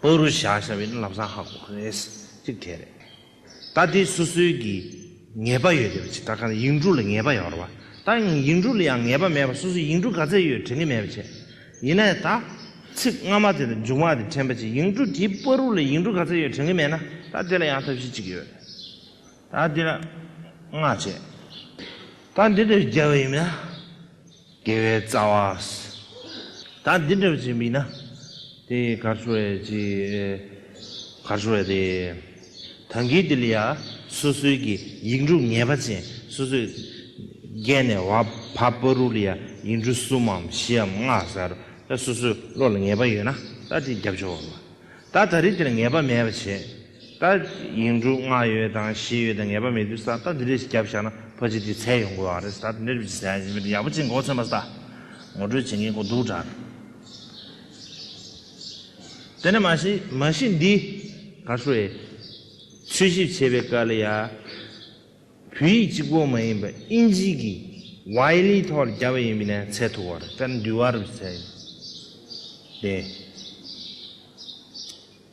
Speaker 1: པོ་རུ་བཞག་བཞག་པའི་ནི་ལམ་སང་ཧ་གོ་རེད། གཅིག་དེ་རེད། ད་དེ་སོ་སོའི་གི་ངེས་པ་ཡོད་དེ་བ་ཆེ་ད་གང་ཡིག་འབྲུ་ལ་ངེས་པ་ཡོད་རེད་བ། ད་ཡིག་འབྲུ་ལ་ཡང་ངེས་པ་མེད་པ་སོ་སོའི་ཡིག་འབྲུ་ག་ཚད་ཡོད་དྲན་གི་མེད་བ་ཆེ། ཡིན་ན་ཡང་ད། ཚིག་སྔ་མ་དེ་དང་མཇུག་མ་དེ་དྲན་པ་ཆེ་ཡིག་འབྲུ་དེའི་པོ་རུ་ལ་ཡིག་འབྲུ་ག་ཚད་ཡོད་དྲན་གི་མེད་ན་ད་དེ་ལ་ཡང་ཐབས་ཤེས་གཅིག་ཡོད། ད་དེ་ལ། ང་བྱས། ད་འདི་ལྟ་བུའི་རྒྱལ་བ་ཡིན་མིན། དགེ་བའི་རྩ་བ། ད་འདི་འདྲ་བྱེད་མིན་ན། དེ་གར་ཤོར་བས་ཅི། གར་ཤོར་བས་དེ། དོན་གྱིས་དེ་ལ་ཡ། སོ་སོའི་གི་ཡིག་འབྲུ་ངེས་པ་ཅན་སོ་སོས། བརྒལ་ནས་བ་བ་པོ་རུ་ལ་ཡ་ཡིག་འབྲུ་གསུམ་མམ་བཞི་འམ་ལྔ་གསར། སོ་སོའི་བློ་ལ་ངེས་པ་ཡོད་ན་ད་དེ་རྒྱབ་ཆོག། ད་ད་རི་དེར་ངེས་པ་མེད་པ་བྱེད། ད་ཡིན་དྲུག་ལྔ་ཡོད་དང་བཞི་ཡོད་དང་ངེས་པ་མེད་དུས་ད་འདི་རེ་ཞིག་བརྒྱབ་བཞག་ན་ཕ་ཅིག་དེ་ཚད་ཡོང་དགོས་ཨང་རེད་ད་འདི་རེ་ཞིག་བྱས་ཡིན་མི་འདུག་ཡག་པོ་ཅིག་མགོ་ཚོན་པ་ད་ངོ་སྤྲོད་བྱེད་མཁན་ཀོ་འདུག་དྲ་དེ་ནས་མ་གཞི་མ་གཞི་འདི་ག་ཧྲུའེ་འཚོལ་ཞིབ་བྱེད་པའི་སྐལ་ལ་ཡ་བུ་ཡིག་གཅིག་པོ་མ་ཡིན་པ་དབྱིན་ཇི་གི་ཝའི་ལི་ཐོག་ལ་བརྒྱབ་པ་ཡིན་མི་ནས་ཚད་ཐུག་ཨང་རེད་ད་འདི་ཝར་བྱས་ཡིན་དེ།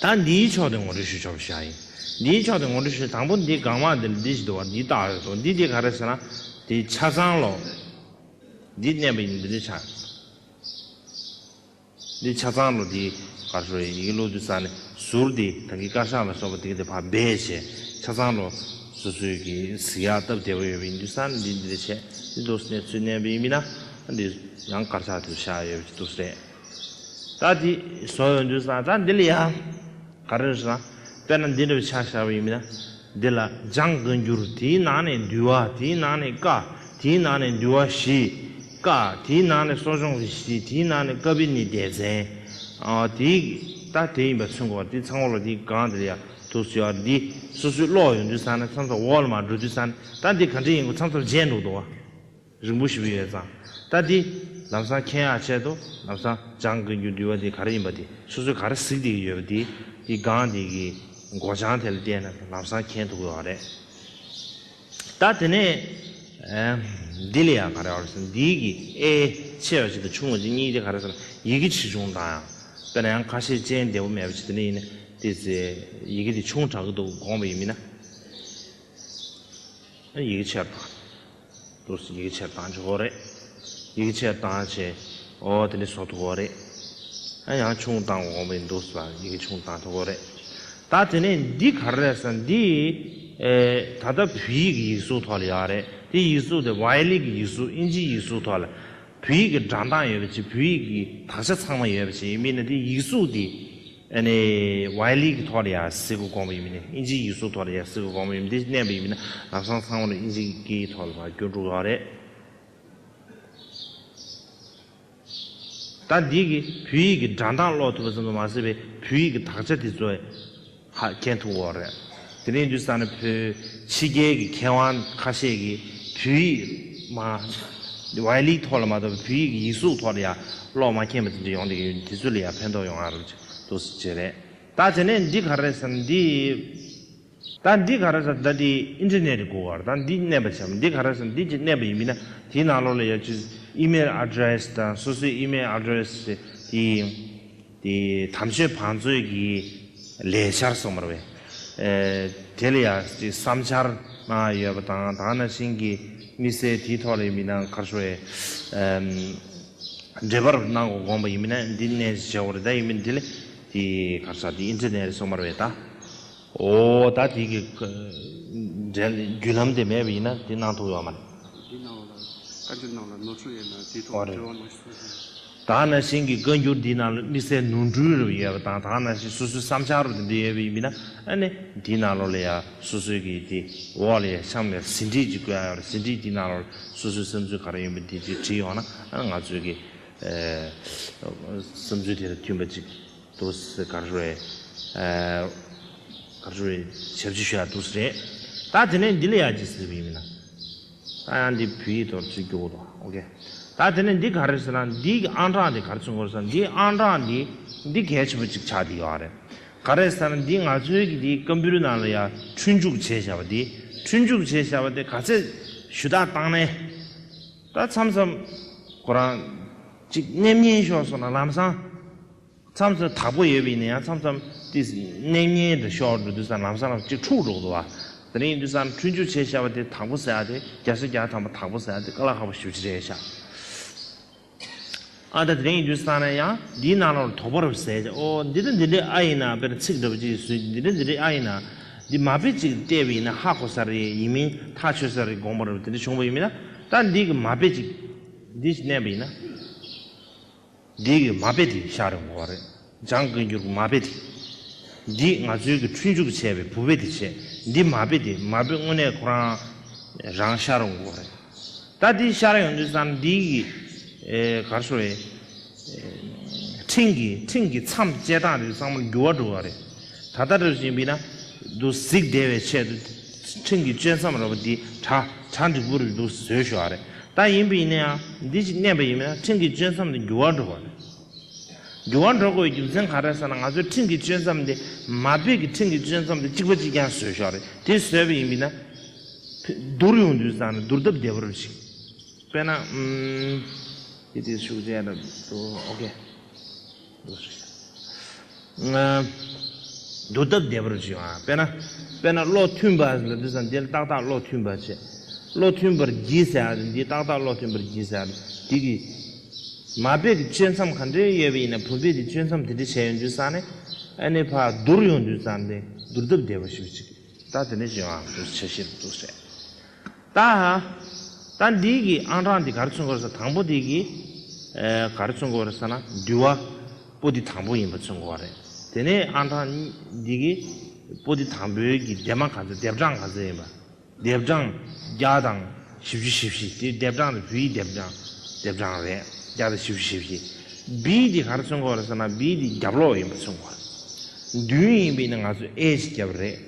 Speaker 1: ད་འདིའི་ཕྱོགས་དེ་ངོ་སྤྲོད་ཞུ་ཆོག་པའི་ཤག་ཡིན། འདིའི་ཕྱོགས་དེ་ངོ་སྤྲོད་ཞུ་དང་པོ་འདི་གང་མང་འདི་ལ་འདི་ཞིག་འདུག་བ་འདི་ལྟ་བ་རེད་དོ་འདི་དེ་ག་རེད་ཟེར་ན། དེ་ཆ་ཚང་ལོ། འདི་བསྣན་པ་ཡིན་འདི་འདི་ཆ། འདི་ཆ་ཚང་ལོ་འདི་གར་ཤོར་ཡིན་ཡིག་ལུགས་འདི་ས་ནི་ཟུར་འདི་གངས་ཀྱི་དཀར་ཤག་ལ་སོགས་པ་འདི་གི་འདི་ཕར་འབད་བྱས་ཆ་ཚང་ལོ། སོ་སོའི་གི་གཟིགས་ཡག་སྟབས་བདེ་བོ་ཡོད་པ་ཡིན་འདི་ས་ནི་འདི་འདི་འདི་ཆས་འདི་འདུག་ནས་ཚུལ་བསྣན་པ་ཡིན་མིན་ན། འདི་ཡང་དཀར་ཆག་དེ་ལ་ཤག་ཡོད་པ་ཅིག་འདུག་རེད། ད་དེ་སོག་ཡོང་དུས་སང་ད་འདི་ལ་ཡ། ག་རེ་རེད་ཟེར་ན། དཔེར་ན་འདི་འདྲ་བའི་ཆ་ཤར་བ་ཡིན་མིན་ན། འདི་ལ་སྦྱང་དགོས་འགྱུར་དེའི་ནང་ནས་འདུལ་བ་དེའི་ནང་ནས་བཀའ་དེའི་ནང་ནས་འདུལ་བ་བཞི། བཀའ་དེའི་ནང་ནས་གསོ་སྦྱོང་རེ་བཞི་དེའི་ནང་ནས་བཀའ་བི་ནི་ཏའི་མཚན། དེའི་ད་དེ་ཡིན་པ་མཚོན་དགོས་པ་དེ་ཚང་བ་ལ་དེའི་སྒང་འདི་ལ་ཡ། དུག་སེལ་བ་འདི་སོ་སོའི་བློ་ཡོང་དུས་སང་ན་མཚམས་མཚམས་འོག་ལ་མ་འགྲོ་དུས་སང་ན་ད་འདི་ག་འདྲ་ཡིན་དགོས་མཚམས་མཚམས་བརྗེད་འགྲོ་འདུག་བ། རིང་པོ་ཞིག་ཡོད་ཙང་ལྟ་དེ། ལམ་སང་ཁྱེད་ཡང་ཆད་དོ། ལམ་སང་སྦྱང་དགོས་རྒྱུ་འདུལ་བ་དེ་ག་རེ་ཡིན་པ་དེ་སོ་སོས་ག་རེ་གཟིགས་དེ་ཡོད་པ་དེ། དེ་སྒང་དེ་གི་སྒོ་བྱང་དེ་ལ་བལྟས་ན་ལམ་སང་ཁྱེད་འཐུག་ཡོད་རེད། ད་དེ་ནས། འདི་ལ་ཡང་ག་རེ་ཡོད་རེད་ཟེར་ན་འདི་གི་ཨེ། ཆེ་བ་ཞིག་དང་ཆུང་བ་ཞིག་གཉིས་དེ་ག་རེ་ཟེར་ན་ཡི་གེ་ཆེ་ཆུང་འདྲ་ཡང། དཔེར་ན་ཡང་ཁ་ཤས་སྤྱན་བདེ་བོ་མེད་པ་ཞིག་དེ་འདྲ་ཡིན་ན་དེ་ཚོས་ཡི་གེ་དེ་ཆུང་དྲགས་གི་འདུག་དགོངས་པ་ཡིན་མིན་ན། ཡི་གེ་ཆེར་དྲགས། དུ་ཡི་གེ་ཆེར་བཏང་ཆོག་རེད། ཡི་གེ་ཆེར་བཏང་བྱས་འོ་དེ་ནི་བཟོ་ཐུབ་བོ་རེད། ཨ་ཡང་ཆུང་བཏང་འོང་བའི་འདུག་ས་ཡི་གེ་ཆུང་བཏང་ཐུབ་བོ་རེད། ད་དེ་ནས་འདི་ག་རེད་ས་འདི་ད་ལྟ་བོད་ཡིག་གི་ཡིག་གཟུགས་ཐོག་ལ་ཡོད་རེད་དེ་ཡིག་གཟུགས་དེ་བྷའི་ལི་གི་ཡིག་གཟུགས་དབྱིན་ཇིའི་ཡིག་གཟུགས་ཐོག་ལ་བོད་ཡིག་གི་སྒྲ་མདངས་ཡོད་པ་ཅིག་བོད་ཡིག་གི་དག་ཆ་ཚང་མ་ཡོད་པ་ཅིག་མིན་ན་དེ་ཡིག་གཟུགས་དེ་ཨ་ནི། ཝའི་ལི་གི་ཐོག་ལ་ཡང་གཟིགས་དགོས་དགོངས་པ་ཡིན་མིན་ནི་ཨིན་ཇིའི་ཡིག་གཟུགས་ཐོག་ལ་ཡང་གཟིགས་དགོས་དགོངས་པ་ཡིན་མིན་དེ་གནས་པ་ཡིན་མིན་ན་ལམ་སང་ཚང་མར་ཨིན་ཇིའི་ཀྱི་ཐོག་ལ་བར་སྐྱོར་འགྲོ་དགོས་བ་རེད། ད་འདི་གི་བོད་ཡིག་གི་སྒྲ་མདངས་ཀློག་ཐུབ་པ་ཙམ་དུ་མ་ཟད་པའི་བོད་ཡིག་གི་དག་ཆ་དེ་ཚོ་ཧ་གྱེན་ཐུབ་དགོས་བ་རེད། དེ་རིང་དུས་སང་ནི་བོད་ཕྱི་རྒྱལ་གྱི་མཁས་དབང་ཁ་ཤས་ཀྱིས་བོད་ཡིག་མ་བའི་ལིག་ཐོག་ལ་མ་གཏོགས་པའི་བོད་ཡིག་གི་ཡིག་གཟུགས་ཐོག་ལ་ཡང་ཀློག་མ་མཁྱེན་པ་དེ་འདྲ་ཡོང་སྡད་ཀྱི་ཡོད་འདུག་དེ་ཚོ་ལ་ཡང་ཕན་ཐོགས་ཡོང་ང་རུ་འདུག་སེ་བྱས་རེད། ད་དེ་ནས་འདི་ག་རེད་བསམ་ན་འདི་ད་འདི་ག་རེད་བསམ་ད་འདི Internet གི་སྒོ་ཁར་ད་འདི་གནས་པ་བྱས་མ་འདི་ག་རེད་བསམ་འདི་ཅིག་གནས་པ་ཡིན་མིན་ན་དེའི་ནང་ལོགས་ལ་ཡང་ཆུ་ཚོད Email Address དང་སོ་སོའི Email Address དེ་ཡིན། དེ་དམ་ཆོས་བང་མཛོད་ཀྱི་ལས་འཆར་སོགས་མར་བས། དེ་ལ་ཡང་ཅིག་བསམ་འཆར་གནང་ཡ་ཡོད་པ་དང་དང་ན་ཤིང་གི་དམིགས་བསལ་དེའི་ཐོག་ལས་མི་སྣ་ཁར་ཤོ་ཡའི་འབྲེལ་པར་གནང་དགོས་དགོངས་པ་ཡིན་མིན་ན་འདི་ནས་ཇེའོ་རེད་ད་ཡིན་མིན་དེ་ལས་དེའི་ཁར་ས་དེའི་ཨིན་ཏེར་ནེ་རེད་སོགས་མར་བས་ད། འོ་ད་དེ་གི་རྒྱུད་ལམ་དེ་མེད་པ་ཡིན་ན་དེ་གནང་ཐུབ་ཡོང་བ་མ་རེད། འདི་གནང་བ་ལ་བཀའ་འགྱུར་ནང་ལ་ནོར་འཁྲུལ་ཡོད་ན་དེའི་ཐོག་ལ་དྲི་བ་གནང་ཤོག་ཞུ་ཞུ། དག་ན་ཤིང་གི་བཀའ་འགྱུར་འདི་ནང་ལ་དམིགས་བསལ་ནོར་འཁྲུལ་རུ་ཡོད་པ་དང་དག་ན་ཤིང་སོ་སོའི་བསམ་འཆར་རུ་དེ་འདི་ཡོད་པ་ཡིན་པས་ན་ཨ་ནི་དེའི་ནང་ལོ་ལ་ཡ་སོ་སོའི་གི་དེ་འོག་ལ་ཡ་ཤམ་ཡ་ཟིན་བྲིས་ཅིག་བཀོད་ཡ་ཟིན་བྲིས་དེའི་ནང་ལོ་ལ་སོ་སོའི་བསམ་ཚུལ་ག་རང་ཡོད་པ་དེ་ཅིག་བྲིས་ཡོང་ན་ཨ་ནི་ང་ཚོའི་གི་བསམ་ཚུལ་དེ་ལ་མཐུན་པ་ཅིག། དུ་སི་ག་རེ། ག་རེ། ཞབས་ཕྱི་ཤོད་ཡ་དུ་སི་རེ། ད་དེ་ནས་འདི་ལ་ཡ་ཇི་སི་བི་མི་ན། ད་ཡང་འདི་བུ་ཡིག་ཐོག་ཇི་གོ་ད་ཨོ་ཀེ། ད་དེ་ནས་འདི་ག་རེ་སི་ན་འདི་གི་ཨང་གྲངས་དེ་ག་རེ་ཚུན་གོ་ས་ན་འདི་ཨང་གྲངས་འདི་འདི་གལ་ཆེན་པོ་ཅིག་ཆགས་འདི་ཡོ་རེད། ག་རེ་ས་ན་འདི་ང་ཚོའི་གི་འདི་ཀམ་པུའུ་རི་ནང་ལ་ཡ་ཁྲུན་འཇུག་བྱེད་ཞབས་པ་འདི་ཁྲུན་འཇུག་བྱེད་ཞབས་པ་དེ་ག་ཚད་ཞུ་དག་བཏང་ནས། ད་མཚམས་མཚམས། ཁོ་རང་ཅིག་སྣེམ་ཉན་ཤོག་སོང་ན་ལམ་སང། མཚམས་སུ་དྭགས་པོ་ཡོད་པའི་ནི་ཡང་མཚམས་སམ་ཏིས་གནས་ཉེ་དུ་ཤོག་འབྲུ་དུས་སམ་ལམ་སམ་ལམ་གཅིག་ཕྲུག་འགྲོགས་དུ་བ། དེ་རིང་དུས་སམ་ཕྲུག་འཇུ་བྱེད་ཤ་བ་དེ་དྭགས་པོ་ཟེར་ཡ་དེ་རྒྱ་སོ་རྒྱ་ཐང་པོ་དྭགས་པོ་ཟེར་ཡ་དེ་ཀ་ལ་ཧ་པོ་ཞུ་བྱེད་རེད་ཤ། ཨ་ད་དེ་རིང་དུས་སམ་ན་ཡང་འདིའི་ནང་ལོར་དོག་པོ་རུ་ཟེར་ཡ་ཨོ་འདི་འདྲ་འདི་འདྲའི་ཨ་ཡིན་ན་དཔེར་ཚིག་འདྲ་པོ་ཅིག་གིས་ཟུས་འདི་འདྲ་འདི་འདྲའི་ཨ་ཡིན་ན། འདི་མ་དཔེ་ཅིག་གིས་བལྟས་པ་ཡིན་ན་ཧ་གོ་ས་རེད་ཡིན་མིན་ཐག་ཆོད་ས་རེད་དགོངས་པ་རུ་དེ་འདྲ་བྱུང་བ་ཡིན་མིན་ན་ད་འདི་གིས་མ་དཔེ་ཅིག་འདི་གནས་པ་ཡིན་ན། འདི་གི་མ་དཔེ་དེ་ཤག་རིང་བོ་བ་རེད་ལྗང་ཀི་འགྱུར་གི་མ་དཔེ་དེ། འདི་ང་ཚོའི་གི་འཁྲུལ་འཇུག་བྱས་པའི་བུ་དཔེ་དེ་བྱས་འདི་མ་དཔེ་དེ་མ་དཔེ་དངོས་གནས་ཁོ་རང་རང་ཤག་རིང་བོ་བ་རེད་ད་འདི་ཤག་རིང་དུ་བསམ་འདི་གི་གར་སོ་རེད། འཕྲིན་གི་འཕྲིན་གི་མཚམས་བཅད་སྟངས་རེད་ཚང་མར་འགྱུར་བ་འགྲོ་བ་རེད། ད་ལྟར་རེ་ཞིག་འབིས་ན། དུ་གཟིགས་བདེ་བའི་ཆེད་དུ། ཕྲིན་གྱི་གཅོད་མཚམས་ར་བ་འདི་གྲ་གྲ་འགྲིག་པོ་རེད་འདུག་བཟོས་ཤོག་ཨ་རེ། ད་ཡིན་འབིས་ནའང་འདི་ཞིག་གནས་པ་ཡིན་འབིས་ན་ཕྲིན་གྱི་གཅོད་མཚམས་འདི་འགྱུར་བ་འགྲོ་དགོས་རེད། འགྱུར་བ་འགྲོ་དགོས་པའི་རྒྱུ་མཚན་ག་རེ་ཟེར་ན་ང་ཚོའི་ཕྲིན་གྱི་གཅོད་མཚམས་འདི་མ་འབིས་ཀྱི་ཕྲིན་གྱི་གཅོད་མཚམས་འདི་གཅིག་པ་གཅིག་རྐྱང་བཟོས་ཤོག་ཨ་རེ། དེ་བཟོས་པ་ཡིན་འབིས་ན། བསྡུར་ཡོང་དུས་བཟང་ནས་བསྡུར་ཐབས་བདེ་པོ་རེ་ཞིག་དཔེར་ན། ཨུ་ཨུ། ཀྱི་དེ་ཤུགས་ཆེ་རེད་འདུག་ཨོ་ཀེ། འདུག་སྟབས་བདེ་པོར་བྱེད། དཔེར་ན། དཔེར་ན་བློ་མཐུན་པ། འདི་ས་འདིར་ཏག་ཏག་བློ་མཐུན་པར་བྱེད། བློ་མཐུན་པར་བགྱིད་ཟེར་ཡང་རུང་འདི་ཏག་ཏག་བློ་མཐུན་པར་བགྱིད་ཟེར་ཡང་རུང་འདི་གི། མ་དཔེ་གི་གཅོད་མཚམས་ག་འདྲའི་ཡོད་པ་ཡིན་ན་བུ་དཔེ་དེ་གཅོད་མཚམས་དེ་འདྲའི་བྱས་ཡོང་དུས་སང་ནས་ཨ་ནེ་ཕ་བསྡུར་ཡོང་དུས་སང་ནས་བསྡུར་སྟབས་བདེ་བ་ཞིག་བྱེད། ད་དེ་འདྲ་བྱེད་ཡོང་ཨ་འདུག་བྱ་ཤེས་རབ་འདུག་བྱ། ད་ཧ། ད་འདིའི་གི་ཨང་གྲངས་འདི་གར་ཚུན་གོ་རེ་ས་དང་པོ་འདི་གི། གར་ཚུན་གོ་རེ་ས་ན་འདུལ་བ། པོ་འདི་དང་པོ་ཡིན་པ་ཚུན་གོ་བ་རེད། དེ་ནས་ཨང་གྲངས། འདི་གི། པོ་འདི་དང་པོའི་གི་འདེབས་མ་ག་ཚོད་འདེབས་གྲངས་ག་ཚོད་ཡིན་པ། འདེབས་གྲངས། བརྒྱ་དང། བཞི་བཅུ་བཞི་བཞི་དེ་འདེབས་གྲངས་རེད་བུ་ཡི་འདེབས་གྲངས། འདེབས་གྲངས་རེད། བརྒྱ་དང་བཞི་བཅུ་བཞི་བཞི། བི་འདི་གར་ཚུན་གོ་རེ་ས་ན་བི་འདི་རྒྱབ་ལོགས་ཡིན་པ་ཚུན་གོ་བ་རེད། འདུལ་ཡིན་པའི་ནི་ང་ཚོས་ཨེ་ཞིག་བརྒྱབ་རེད།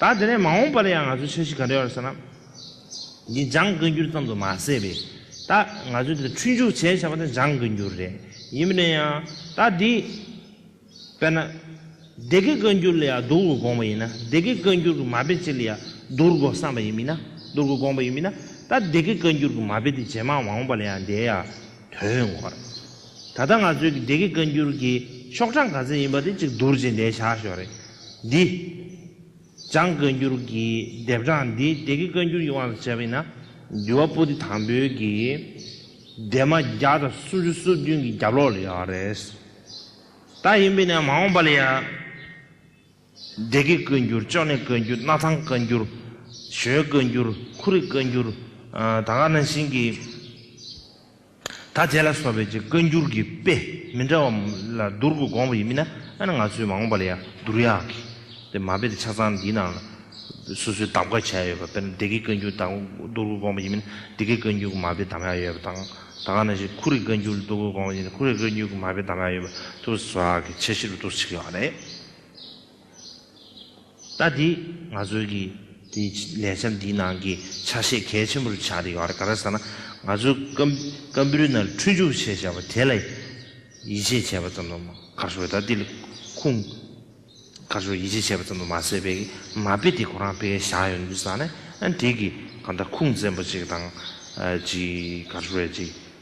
Speaker 1: ད་དེ་ནས་མ་འོངས་པར་ཡང་ང་ཚོའི་འཆར་གཞི་ག་འདྲ་ཡོད་ཟེར་ན། འདི་འཇང་བཀའ་འགྱུར་ཙམ་དུ་མ་ཟད་པས་ད་ང་ཚོས་འདིར་འཁྲུལ་འཇུག་བྱས་བྱས་པ་དེ་འཇང་བཀའ་འགྱུར་རེད། ཡིན་པ་ནས་ཡང་ད་འདི། དཔེར་ན། སྡེ་དགེ་བཀའ་འགྱུར་ལ་ཡང་བསྡུར་དགོས་དགོངས་པ་ཡིན་ན་སྡེ་དགེ་བཀའ་འགྱུར་གྱི་མ་དཔེ་གཅིག་ལ་ཡང་བསྡུར་དགོས་བསམ་པ་ཡིན་མིན་ན་བསྡུར་དགོས་དགོངས་པ་ཡིན་མིན་ན་ད་སྡེ་དགེ་བཀའ་འགྱུར་གྱི་མ་དཔེ་དེ་ཇེ་མང་མ་འོངས་པ་ལ་ཡང་འདས་ཡ་དོན་ངོར། ད་ལྟ་ང་ཚོའི་སྡེ་དགེ་བཀའ་འགྱུར་གྱི་ཤོག་གྲངས་ག་ཚད་ཡིན་པ་དེ་གཅིག་བསྡུར་བྱེད་འདའི་བྱ་ཞོར་རེད། འདི། བྱང་བཀའ་འགྱུར་གྱི་དེབ་གྲངས་འདི་སྡེ་དགེ་བཀའ་འགྱུར་གྱི་དབང་དུ་བྱས་པ་ཡིན་ན། འདུལ་བ་པོ་ཏི་དང་པོའི་གི། སྡེ་མ་བརྒྱ་དང་སུམ་ཅུ་སོ་བདུན་གྱི་རྒྱབ་ལོགས་ལ་ཡོད་རེད། ད་ཡིན་པས་ན་མ་འོངས་པ་ལ་ཡང། སྡེ་དགེ་བཀོད་འགྱུར་ཅོ་ནེ་བཀོད་འགྱུར་སྣ་ཐང་བཀའ་འགྱུར། ཞོལ་བཀོད་འགྱུར་ཁུ་རི་བཀའ་འགྱུར། ད་ག་ན་ཤིང་གི་ད་དེ་ལ་སོགས་པའི་ཅེས་བཀའ་འགྱུར་གྱི་དཔེ་མི་འདྲ་བ་ལ་བསྡུར་དགོས་དགོངས་པ་ཡིན་མིན་ན་ཨ་ན་ང་ཚོས་མ་འོངས་པ་ལ་ཡང་བསྡུར་ཡག་གི་དེ་མ་དཔེ་དེ་ཆ་ཚང་འདིའི་ནང་ལ་སོ་སོའི་གདམ་ག་བྱས་ཡོད་པ་དཔེར་ན་སྡེ་དགེ་བཀའ་འགྱུར་དང་བསྡུར་དགོས་དགོངས་པ་ཡིན་མིན་ན་སྡེ་དགེ་བཀའ་འགྱུར་གྱི་མ་དཔེ་གདམ་ཡག་ཡོད་པ་དང་ད་ག་ན་ཤིང་ཁུ་རི་བཀའ་འགྱུར་བསྡུར་དགོས་དགོངས་པ་ཡིན་ན་ཁུ་རི་བཀའ་འགྱུར་གྱི་མ་དཔེ་གདམ་ཡག་ཡོད་པ་བསྡུར་བ་སོགས་ཀྱི་ཆ་གཞི་རུ་བསྡུར་ཆགས་ཡོད་པ་རེད། ལྟ་དེ་ང་ཚོའི་གི་དེ་ལས་འཆར་འདིའི་ནང་གི་ཆ་ཤས་གལ་ཆེན་པོར་ཆགས་རེད་ག་རེ་ཟེར་ན་ང་ཚོའི་སྐམ་པོའི་ནང་ཁྲུས་འཇུག་བྱེད་བྱ་བ་དེ་ལ་ཡིད་ཆེས་བྱས་པ་ཙམ་དུ་མ་ཁར་ཞོག་ལྟ་དེ་ལ་ཁུངས་ཁར་ཞོག་ཡིད་ཆེས་བྱས་པ་ཙམ་དུ་མ་ཟད་པའི་གི་མ་དཔེ་དེ་ཁོ་རང་དཔེ་བཞག་ཡོད་འདུག་ས་ནས་ཨ་དེ་གི་གང་ལྟར་ཁུངས་བཙན་པོ་ཅིག་དང་ཅིག་ཁར་ཞོག་ཅིག་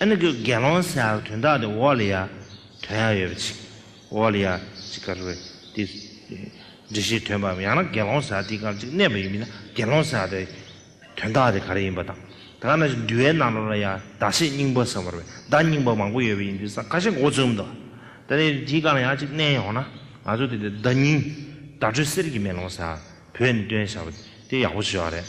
Speaker 1: ཨ་ནི་ཀུ་དགེ་སློང་ཟས་ཨ་ཀི་དོན་དག་དེ་འོག་ལ་ཡ། དོན་ཡ་ཡོད་པ་ཅིག། འོག་ལ་ཡ། ཅིག་ག་རུ། དེ། འདྲི་ཞིག་དོན་པའམ་ཡང་ན་དགེ་སློང་ཟས་ཨ་དེའི་གང་ཅིག་གནས་པ་ཡིན་མིན་ན་དགེ་སློང་ཟས་ཨ་དེ། དོན་དག་དེ་ག་རེ་ཡིན་པ་དང། དེ་ག་ན་ཞིག་འདུལ་བའི་ནང་ལོགས་ལ་ཡ། བདག་ཤེས་སྙིང་པོ་ཟེར་བ་རུ་བས་བདག་སྙིང་པོ་མང་པོ་ཡོད་པ་ཡིན་དུས་ས་ག་ཞིག་འགོ་བཙུགས་འདུག། དེ་ནས་དེའི་གང་ལ་ཡ་ཅིག་གནས་ཡོང་ན། ང་ཚོ་དེ་དེ་བདག་ཉིད། བདག་ཁྲོད་གསེར་གྱི་མེ་ལོང་ཟས་ཨ་བོས་ནི་སྟོན་བྱ་བ་དེ་ཡག་པོ་བྱོས་བ་རེད།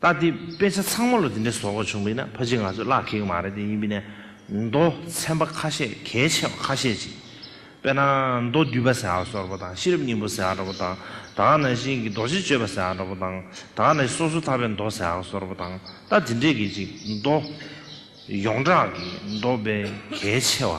Speaker 1: ད་དེ་དཔེ་ཆ་ཚང་མ་ལ་དེ་འདྲའི་བཟོ་བཀོད་བྱུང་བས་ན་ཕ་གཅིག་ང་ཚོས་བརླག་གི་ཡོད་མ་རེད་དེ་ཡིན་པས་ན་མདོ་ཚན་པ་ཁ་ཤས་གལ་ཆེ་བ་ཁ་ཤས་ཅིག་དཔེར་ན་མདོ་བསྡུས་པ་ཟེར་བ་སོགས་པོ་དང་ཤེས་རབ་སྙིང་པོ་ཟེར་བ་པོ་དང་ད་ནང་བཞིན་གྱི་རྡོ་རྗེ་གཅོད་པ་ཟེར་བ་པོ་དང་ད་ནང་བཞིན་སོ་སོ་ཐར་པའི་མདོ་ཟེར་བ་སོགས་པོ་དང་ད་དེ་འདྲས་ཀྱི་ཅིག་མདོ། ཡོངས་གྲགས་ཀྱི་མདོ་དཔེ་གལ་ཆེ་བ།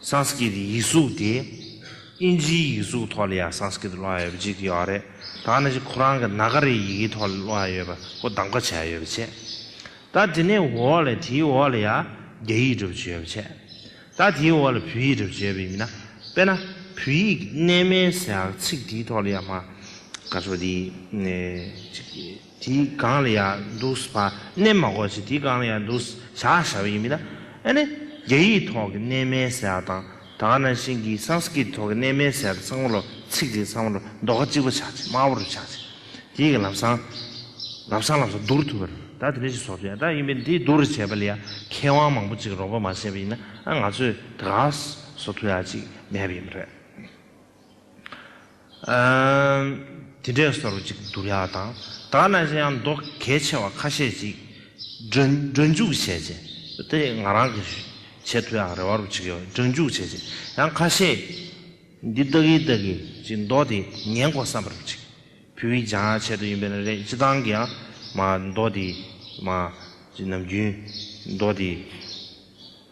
Speaker 1: Sanskrit ཡིག་གཟུགས་དེ་ཨིན་ཇིའི་ཡིག་གཟུགས་ཐོག་ལ་ཡང Sanskrit སློང་ཡ་ཡོད་པ་གཅིག་དེ་ཡོད་རེད་ད་ནི་ཁོ་རང་གི་ནཱག་རའི་ཡི་གེའི་ཐོག་ལ་སློང་ཡ་ཡོད་པ་ཁོ་གདམ་ཀ་བྱས་ཡ་ཡོད་པ་བྱས་ད་དེ་ནས་འོག་ལ་དེའི་འོག་ལ་ཡ་རྒྱ་ཡིག་སྒྲུབ་བྱེད་ཡོད་པ་བྱས་ད་དེའི་འོག་ལ་བོད་ཡིག་སྒྲུབ་བྱེད་ཡོད་པ་ཡིན་མིན་ན་དཔེར་ན་བོད་ཡིག་གི་གནས་མལ་ཟེར་ཡག་ཚིག་དེའི་ཐོག་ལ་ཡ་མ་ག་ཚོ་དེ་ནས་གཅིག་དེའི་སྒང་ལ་ཡང་འདུག་བ་སྣེ་མ་གོ་ཆེ་དེའི་སྒང་ལ་ཡང་འདུག་བྱ་བྱ་བ་ཡིན་མིན་ན། ཨ་ནི་རྒྱ་ཡིག་ཐོག་གི་གནས་མལ་ཟེར་བ་དང་ད་ག་ནང་བཞིན་གྱི Sanskrit ཐོག་གི་གནས་མལ་ཟེར་བ་དེ་ཚང་མ་ལོ་ཚིགས་དེ་ཚང་མ་ལོ་འདོག་ག་གཅིག་པ་ཆགས་ཆེ་དམའ་བོ་རུ་ཆགས་ཆེ་དེ་ཡི་ག་ལམ་སང་ལམ་སང་ལམ་སང་བསྡུར་ཐུབ་པ་རེད་ད་དེ་འདྲ་ཞིག་བཟོ་ཐུབ་ཡ་ད་ཡིན་པས་དེ་བསྡུར་བྱས་པ་ལ་ཡང་མཁས་དབང་མང་པོ་ཅིག་རོགས་པ་མ་བྱས་པ་ཡིན་ན་ཨ་ང་ཚོས་ད་ག་བཟོ་ཐུབ་ཡ་ཅིག་མེད་པ་ཡིན་པ་རེད། དེ་འདྲས་སོར་གཅིག་བསྡུ་བྱ་བ་དང། དག་ན་ཅི་ཡང་མདོ་གལ་ཆེ་བ་ཁ་ཤས་ཅིག་སྒྲོན་འཇུག་བྱས་རྗེས། དེ་ང་རང་གི་བྱེད་ཐུ་ཡང་རེ་བ་རུ་ཆིག་ཡོད་སྒྲོན་འཇུག་བྱས་རྗེས་ཡང་ཁ་ཤས། འདི་ལྟ་གི་ལྟ་གི་ཅིག་མདོ་དེ་ཉན་གོ་བསམ་པ་རུ་ཆིག་བུ་བི་ཇང་ཡང་ཆེད་དུ་ཡིན་པས་ན་རེད་སྤྱི་དང་གི་ཡང་མ་མདོ་དེ་མ། ཅིག་ནམ་རྒྱུན་མདོ་དེ།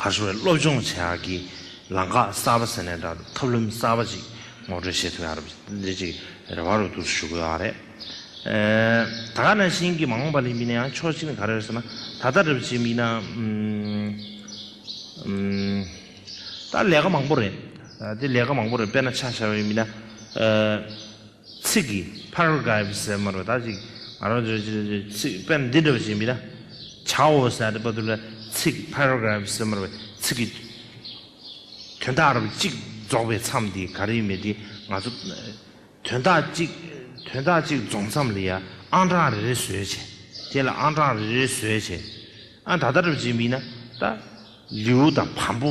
Speaker 1: གར་སོང་བའི་སློབ་སྦྱོང་བྱེད་ཡག་གི་ལམ་ཁ་གསར་པ་ཟེར་ནས་འདྲ་ཐབས་ལམ་གསར་པ་ཅིག་ངོ་སྤྲོད་བྱེད་ཐུབ་ཡག་རེད་འདི་ཅིག་རེ་བ་རུ་འདུག་ཞུ་དགོས་ཡག་རེད། ད་ག་ནང་བཞིན་གྱི་མ་འོངས་པ་ལས་མིན་ན་ཡང་ཆོག་གཅིག་ནི་ག་རེ་རེད་ཟེར་ན་ད་ལྟ་རེ་བ་ཅིག་མིན་ན་ད་ལས་ཀ་མང་པོ་རེད་དེ་ལས་ཀ་མང་པོ་རེད་དཔེར་ན་ཆ་བཞག་པའི་མིན་ན། ཚིག་གི Paragraph ཟེར་མ་རུ་ད་ཅིག་ང་རང་ཚོས་ཚིག་དཔེར་འདི་འདྲ་བ་ཞིག་མི་ད་བྱའོ་ཟེར་ཏེ་པ་དུ་ལ་ཚིག Paragraph ཟེར་མ་རུ་བའི་ཚིག་གི་དོན་དག་རབ་གཅིག་རྫོགས་པའི་མཚམས་དེ་ག་རེ་མེད་དེ་ང་ཚོ་དོན་དག་གཅིག་དོན་དག་གཅིག་རྫོགས་མཚམས་ལ་ཡ་ཨང་གྲངས་རེ་རེ་བཟོས་བྱས་དེ་ལ་ཨང་གྲངས་རེ་རེ་བཟོས་བྱས་ཨ་ད་ལྟ་རབ་གཅིག་མིན་ན་ད་ལེའུ་དང་བམ་པོ་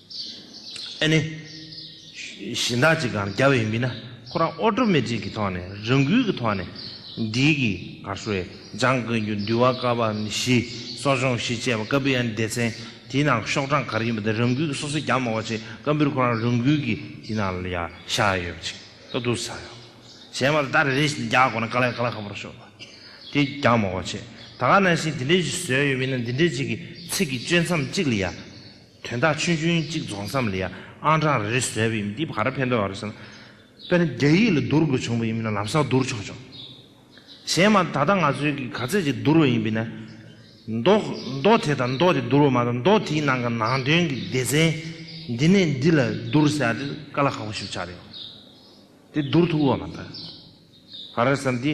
Speaker 1: ཨ་ནེ། གཞན་དག་ཅིག་གམ་རྒྱ་བའི་མི་ན་ཁོ་རང་ཨོ་ཏྲོ་མེ་ཏྲིག་གི་ཐོག་ནས་རང་འགུལ་གྱི་ཐོག་ནས་འགྲིལ་གྱི་གར་སོ་ཡེ་འཇང་དགོན་རྒྱུ་འདུལ་བ་བཀའ་བབས་བཞི་གསོ་སྦྱོང་བཞི་བཅས་པ་བཀའ་འབུལ་ཨན་སྡེ་ཚན་དེའི་ནང་ཤོག་གྲངས་ག་རེ་ཡིན་པ་དེ་རང་འགུལ་གྱི་སོ་སོའི་རྒྱ་མོ་བ་ཆེ་བཀའ་འབུལ་ཁོ་རང་རང་འགུལ་གྱི་དེའི་ནང་ལ་ཡ་བཞག་ཡོད་པ་ཅིག་ཏུ་འདུག་ས་ཡོད། གཞན་པ་ལ་ད་རེ་རེ་བཞིན་རྒྱག་དགོས་ན་ག་ལ་ཡ་ག་ལ་ཁ་པོ་ར་ཤོག་ལ་དེ་རྒྱ་མོ་བ་ཆེ་ད་ག་ནང་བཞིན་དེ་འདྲའི་བཞི་བཟོས་ཡོད་མིན་ན་འདི་འདྲའི་ཅིག་གི་ཚིག་གི་གཅོད་མཚམས་གཅིག་ལ་ཡ། དོན་དག་ཆུང་ཆུང་གཅིག་རྫོགས་མཚམས་ལ་ཡང་ཨང་གྲངས་རེ་བཟོས་པ་ཡིན་འདི་བར་ཕན་ཐོགས་རེད་བསམ། དཔེར་ན་རྒྱ་ཡིག་ལ་བསྡུར་དགོས་བྱུང་བ་ཡིན་པས་ན་ལམ་སང་བསྡུར་ཆོག་ཆོག། གཞན་མ་ད་ལྟ་ང་ཚོའི་གིས་ག་ཚད་ཅིག་བསྡུར་བ་ཡིན་པས་ན། མདོ། མདོ་དེ་དང་མདོ་དེ་བསྡུར་བ་མ་གཏོགས་མདོ་དེའི་ནང་གི་ནང་དོན་གྱི་སྡེ་ཚན་འདི་ནས་འདི་ལ་བསྡུར་ཟེར་ཡག་འདི་དཀའ་ལ་ཁག་པོ་ཞིག་ཆགས་རེད་བ། དེ་བསྡུར་ཐུབ་བོ་བ་མ་རེད་བསམ། འདི།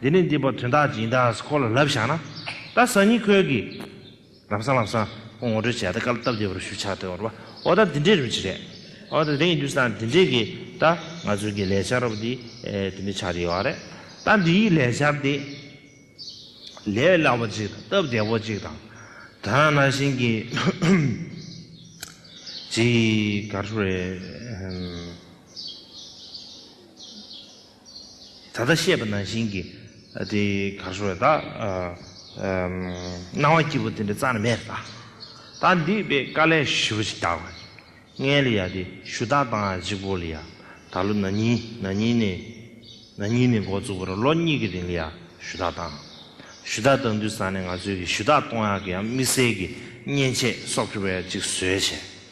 Speaker 1: འདི་ནས་འདི་བར་དོན་དག་སྦྱིན་བདག་གི་སྐོར་ལ་ལབ་བཞག་ན། ད་གཟའ་ཉི་ཁོལ་གྱི། ལམ་སང་ལམ་སང། ཁོང་ངོ་སྤྲོད་བྱས་ད་སྐལ་བཏབ་བདེ་བར་ཞུ་ཆགས་དོན་བར་བ་འོ་ད་འདི་འདྲའི་རིམ་གྱིས་རེད། འོ་ད་དེ་ཡིན་དུས་ད་འདི་འདྲའི་གི་ད་ང་ཚོའི་གི་ལས་འཆར་རོབ་འདི་འདི་འདྲའི་ཆགས་ཀྱི་ཡོད་རེད། ད་འདི་ཡིས་ལས་འཆར་འདི། ལས་སླ་བོ་ཅིག་དང་སྟབས་བདེ་བོ་ཅིག་དང། ད་ན་བཞིན་གྱི། ཅིག་ག་རེ་རེད། ད་ལྟ་བཤད་པ་ནང་བཞིན་གྱི་དེ་གར་ཤོར་བས་དག། སྣང་བ་སྐྱིད་པོ་དེ་འདྲ་རྩ་ནས་མེད་དག། ད་འདི་པས་དཀའ་ལས་ཞི་བ་ཞིག་དག། ངའི་ལི་ཡ་དེ་ཞུ་དག་དང་གཅིག་པོ་ལི་ཡ་ད་ལོ་ན་ནིང་ན་ནིང་ནས་ན་ནིང་ནས་འགོ་བཙུགས་པར་ལོ་གཉིས་ཀྱི་རིང་ལི་ཡ་ཞུ་དག་དང། ཞུ་དག་དང་དུས་བཟང་ནས་ང་ཚོས་གི་ཞུ་དག་གཏོང་ཡག་གི་ཡང་དམིགས་བསལ་གྱི་མཉེན་ཆས་སོགས་ཁྱོ་བས་ཅིག་བཟོས་བྱས།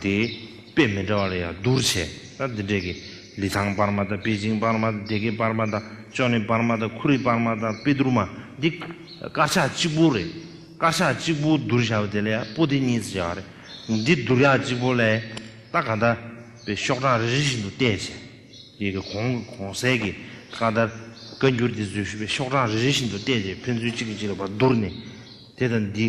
Speaker 1: དེའི་དཔེ་མི་འདྲ་བ་ལ་ཡང་བསྡུར་བྱས་ན་འདི་འདྲས་ཀི། ལི་ཐང་སྤར་མ་དང་པེ་ཅིང་སྤར་མ་དང་དེ་གའི་སྤར་མ་དང་ཅོ་ནེ་སྤར་མ་དང་ཁུ་རི་སྤར་མ་དང་པེ་དུར་མ་འདི་དཀར་ཆག་གཅིག་པོ་རེད། དཀར་ཆག་གཅིག་པོ་བསྡུར་བྱ་བ་དེ་ལས་པོ་ཏི་གཉིས་སུ་བྱ་བ་རེད། འདི་བསྡུར་བྱ་གཅིག་པོ་ལས་རྟ་ག་འདྲ་བའི་ཤོག་གྲངས་རེ་རེ་བཞིན་དུ་བལྟས་བྱས། ཡི་གེ་གོང་གི་གོང་གསལ་གྱི་བཀའ་ལྟར་བཀའ་འགྱུར་འདི་བཟོས་ཞུས་པའི་ཤོག་གྲངས་རེ་རེ་བཞིན་དུ་བལྟས་བྱས་ཕན་ཚུན་གཅིག་གིས་གཅིག་ལ་བར་བསྡུར་ནས་དེ་དང་འདི།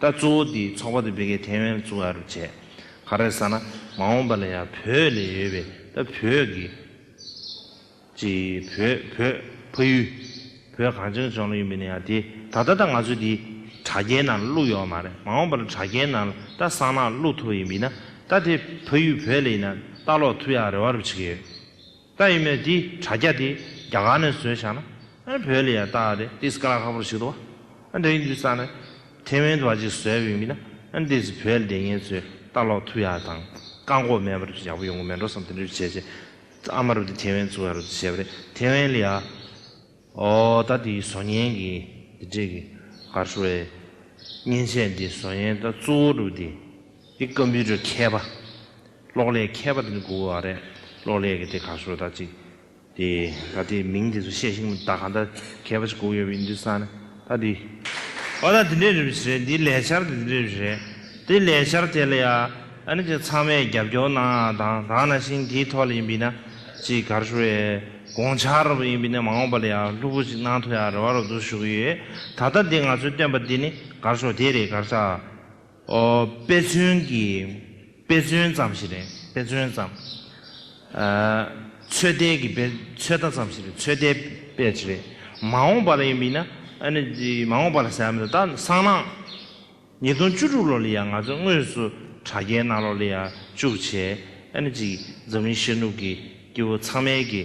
Speaker 1: ད་གཙོ་བོ་དེའི་ཚོགས་པ་དེ་བོད་སྐད་ཐའེ་ཝན་ལ་བཙུགས་ཨ་རུ་བྱས། ག་རེ་ཟ་ན་མ་འོངས་པ་ལ་ཡང་བོད་ལས་ཡོལ་བའི་ད་བོད་ཀྱི། ཅི། བོད་བོད་ཕ་ཡུལ། བོད་གངས་ཅན་ལྗོངས་ལ་ཡོད་མི་ནི་ཡང་དེ་ད་ལྟ་ད་ང་ཚོས་དེ་དྲ་རྒྱའི་ནང་ལ་བླུགས་ཡོད་མ་རེད་མ་འོངས་པ་ལ་དྲ་རྒྱའི་ནང་ལ་ད་གསང་ནག་བླུགས་ཐུབ་ཡིན་མིན་ན་ད་དེ་ཕ་ཡུལ་བོད་ལ་ཡིན་ན་ལྟ་ཀློག་ཐུབ་ཡག་རེ་བ་རུ་བྱེད་ཀྱི་ཡོད། རྟ་ཡིན་མོད་དེའི་དྲ་རྒྱ་དེ་རྒྱ་གར་ནས་བཟོས་ཤག་ན་ཨ་བོད་ལ་ཡང་རྟ་ཨ་རེད་དེ་སྐ་ལ་ཁ་པོར་ཞིག་ཏུ་ཨ་འདྲ་ཡིན་དུས་ས་ནས་ཐེ་ཝན་དུ་བ་ཅིག་བཟོས་ཡོད་མིན་ན་ཨ་འདིས་བོད་ལ་དེ་ངེད་ཚོས་རྟ་ལོག་ཐུ་ཡག་དང་བཀག་འགོག་མེད་པར་ཡག་པོ་ཡོང་གི་མེད་འགྲོ་བསམ་དེ་འདྲ་རིགས་བྱས་བྱས་ཨ་མ་རུ་དེ་ཐེ་ཝན་བཙུགས་ཡག་རུ་བྱས་པ་རེད་ཐེ་ཝན་ལ་ཡ་ཨོ་རྟ་དེ་བཟོ་ཉན་གི་དེ་འདྲས་གི་གར་ཤོར་ཨེ་མཉེན་ཆས་འདི་བཟོ་ཉན་རྟ་གཙོ་བོ་རུ་དེ་དེ་ཀམ་པུའུ་ཏར་མཁས་པ། གློག་ཀླད་མཁས་པ་དེ་ནི་གུ་གུ་ཨ་རེད། གློག་ཀླད་ཀྱི་དེ་ག་སོ་ད་ཅིག་དེ་ད་དེ་མིང་དེ་ཚོ་བཤད་ཤིང་ད་ག་ད་མཁས་པ་ཅིག་གུ་གུ་ཡོད་པའི་འདུས་ས་ནི་ད་དེ། ཨོ་ད་དེ་འདྲའི་རིམ་བཞིན་རེད་དེའི་ལས་འཆར་དེ་འདྲའི་རིམ་བཞིན་རེད། དེའི་ལས་འཆར་དེ་ལ་ཡ་ཨ་ནི་ཅིག་ཚང་མས་རྒྱབ་སྐྱོར་གནང་ཨ་དང་དང་ན་ཤིང་དེའི་ཐོག་ལ་ཡིན་པས་ན་ཅིག་གར་ཞུ་བའི་དགོངས་འཆར་རོ་པ་ཡིན་པས་ན་མ་འོངས་པ་ལ་ཡ་ལྷུག་པོ་ཅིག་གནང་ཐུབ་ཡ་རེ་བ་རོ་བསྡུ་ཞུ་གི་ཡོད་ད་ད་དེ་ང་ཚོས་བཏོན་པ་དེ་ནི་གར་ཞོག་དེ་རེད་གར་ཆག་དཔེ་མཚོན་གྱི་དཔེ་མཚོན་ཙམ་ཞིག་རེད་དཔེ་མཚོན་ཙམ། ཚོད་ལྟའི་གི་དཔེ་ཚོད་ལྟ་ཙམ་ཞིག་རེད་ཚོད་ལྟའི་དཔེ་ཞིག་རེད། མ་འོངས་པ་ལ་ཡིན་པའི་ན་མ་འོངས་པ་ལ་ཟེར་མི་འདུག་ད་སང་ན་ཉིས་སྟོང་བཅུ་དྲུག་ལོ་ལ་ཡང་ང་ཚོ་དངོས་སུ་དྲ་རྒྱའི་གནའ་ལོག་ལ་ཡང་བཅུག་བྱས། འཛམ་གླིང་ཤར་ནུབ་ཀྱི་སྐྱེ་བོ་ཚང་མའི་གི།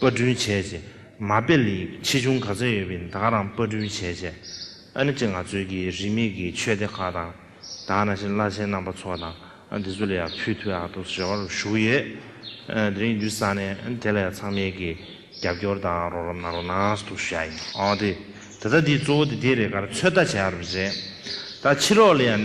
Speaker 1: དཔར་སྐྲུན་བྱས་རྗེས་མ་དཔེ་ལེགས་ཆེ་ཆུང་ག་ཚོད་ཡོད་པའི་དག་རང་དཔར་སྐྲུན་བྱས་རྗེས་ཨ་ནི་ཅི་ང་ཚོའི་གི་རིས་མེད་གི་ཆོས་སྡེ་ཁག་དང་དག་ན་ཤི་བླ་ཆེན་རྣམ་པ་ཚོ་དང་དེ་ཚོ་ལ་ཡང་ཕུལ་དུས་ཨ་ཏོ་རེ་བར་བཞུགས་ཡོད། དེ་རིང་འདུས་ས་ནས་དེ་ལ་ཡང་ཚང་མས་གི་རྒྱབ་སྐྱོར་དང་རོགས་རམ་གནང་རོགས་གནང་ཟུ་ཐུགས་ཞུ་ཡ་ཡིན། ཨོ་དེ་ད་ལྟ་འདི་གཙོ་བོ་དེ་དེ་རེད་ག་རེ་ཚོད་ལྟ་བྱས་ཡ་རུ་རེད་ད་ཕྱི་རོལ་ལ་ཡང།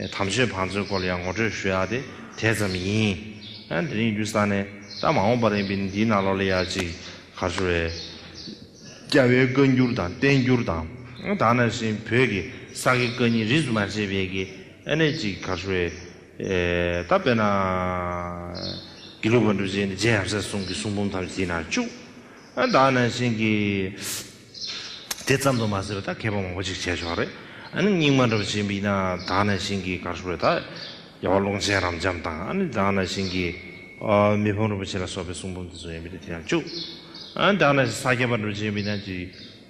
Speaker 1: དམ་ཆོས་བང་མཛོད་སྐོར་ལ་ཡང་ངོ་སྤྲོད་ཞུ་ཡག་དེ་དེ་ཙམ་ཡིན། དེ་རིང་རྒྱུ་ས་ནས་ད་མ་འོངས་པར་ཡིན་པའི་འདིའི་ནང་ལོག་ལས་ཡག་ཅིག་ག་ཚོད་རེད། རྒྱ་བོའི་བཀའ་འགྱུར་དང་བསྟན་འགྱུར་དང་དག་ན་བཞིན་བོད་ཀྱི་ས་དགེ་བཀའ་རྙིང་རིས་སུ་མ་ཆད་པའི་དགེ་གནས་ཅིག་ག་ཚོད་རེད། ད་དཔེར་ན། དགེ་ལུགས་པ་འགྲུ་ཆེན་ནས་རྗེ་ཡབ་སྲས་གསུམ་གྱི་གསུང་འབུམ་ཐམས་ཅད་དེའི་ནང་བཅུག། དག་ན་བཞིན་གྱི། དེ་ཙམ་དུ་མ་ཟད་པ་ད་མཁས་པ་མང་པོ་ཅིག་བྱས་ཆོག་རེད་ཨ་ནི་སྙིང་མ་འདྲ་བ་ཅིག་འབིག་ན་དག་ན་ཤིང་གི་གར་སོགས་རེད་ད་རྒྱལ་བ་ཀློང་ཆེན་རབ་འབྱམས་དང་ཨ་ནི་དག་ན་ཤིང་གི་མི་ཕམ་རིན་པོ་ཆེ་ལ་སོགས་པའི་གསུང་འབུམ་དེ་ཚོ་ཡང་འབིག་ན་དེ་ཡང་བཅུག་ཨ་ནི་དག་ན་ཤིང་ས་སྐྱ་པ་འདྲ་བ་ཅིག་འབིག་ན་དེ་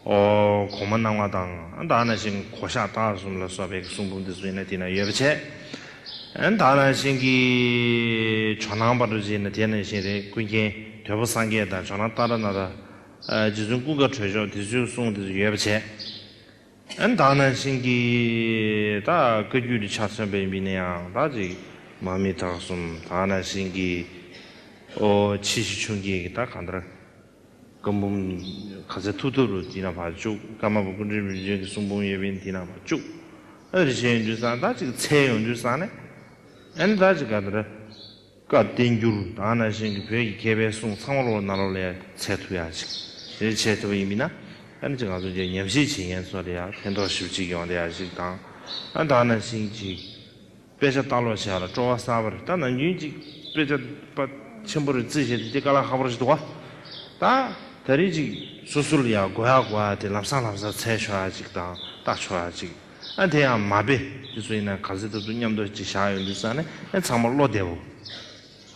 Speaker 1: གོང་མ་སྣང་བ་དང་ཨ་ནི་དག་ན་ཤིང་གོ་ཤ་སྟག་གསུམ་ལ་སོགས་པའི་གསུང་འབུམ་དེ་ཚོ་ཡིན་ན་དེ་ན་ཡོད་པ་བྱས་ཨ་ནི་དག་ན་ཤིང་གི་ཇོ་ནང་པ་འདྲ་བ་ཅིག་ཡིན་ན་དེ་ན་ཤིང་རེད་ཀུན་མཁྱེན་དོལ་པོ་སངས་རྒྱས་དང་ཇོ་ནང་ཏཱ་ར་ནཱ་ཐ། རྗེ་བཙུན་ཀུན་དགའ་གྲོལ་མཆོག་དེ་ཚོའི་གསུང་དེ་ཚོ་ཡོད་པ་བྱས། ཨན་བདག་ནང་བཞིན་གྱི་ད་བཀའ་རྒྱུད་དུ་ཆ་མཚོན་པ་ཡིན་པའི་ནི་ཡང་དག་ཅིག་མ་མི་དག་གསུམ་བདག་ནང་བཞིན་གྱི་ཨོ་ཕྱི་ཞིག་ཆུང་སྐྱེས་ཀྱི་ད་གང་ལྟར་བཀའ་འབུམ་ག་ཚད་ཐུབ་ཐུབ་རུ་འདི་ན་བར་བཅུག་ཀརྨ་པ་ཀུན་འདྲེན་བུ་ཆུང་གི་གསུང་འབུམ་ཡོད་པའི་འདི་ན་བར་བཅུག་ཨ་རི་བྱས་ཡོང་དུས་སང་བདག་ཅིག་འཚལ་ཡོང་དུས་སང་ནས་ཨན་བདག་ཅིག་ག་ལྟར་བཀའ་བསྟན་འགྱུར་དང་ན་གཞོན་གྱི་བོད་ཀྱི་མཁས་པའི་གསུང་ཚང་མ་ལོ་ན་ལོ་ལས་ཚད་ཐུབ་ཡག་ཅིག་རེ་བྱས་ཐུབ་པ་ཡིན་མིན་ན་ཨ་ནི་ཅིག་ང་ཚོ་འདིར་ཉམས་ཞིབ་བྱེད་མཁན་ཚོ་རེ་ཡག་ཕན་ཐོག་ཞིབ་ཅིག་ཡོང་བསྡད་ཡག་ཅིག་དང་ཨ་དང་ན་གཞོན་གྱི་དཔེ་ཆ་ལྟ་ཀློག་བྱས་ལ་སྤྲོ་བ་གསར་པ་རེ་ད་ན་གཞོན་གྱི་དཔེ་ཆ་པ་ཆེན་པོ་རེ་བརྩི་བྱས་ཏེ་འདི་ཀ་ལ་ཧ་པོར་ཅིག་འདུག་ད་ད་རེ་ཅིག་སོ་སོ་ལ་ཡག་དགོས་ཡག་དགོས་ཡག་དེ་ལམ་སང་ལམ་སང་འཚལ་ཆོག་ཡག་ཅིག་དང་ལྟ་ཆོག་ཡག་ཅིག། ཨ་དེ་ཡང་མ་དཔེ་དེ་ཚོ་ཡིན་ན་ག་ཚོད་ཐུབ་ཐུབ་མཉམ་འདོགས་ཅིག་བཞག་ཡོང་དུས་བསམ་ནས་ཨེ་ཚང་མ་བློ་བདེ་བོ།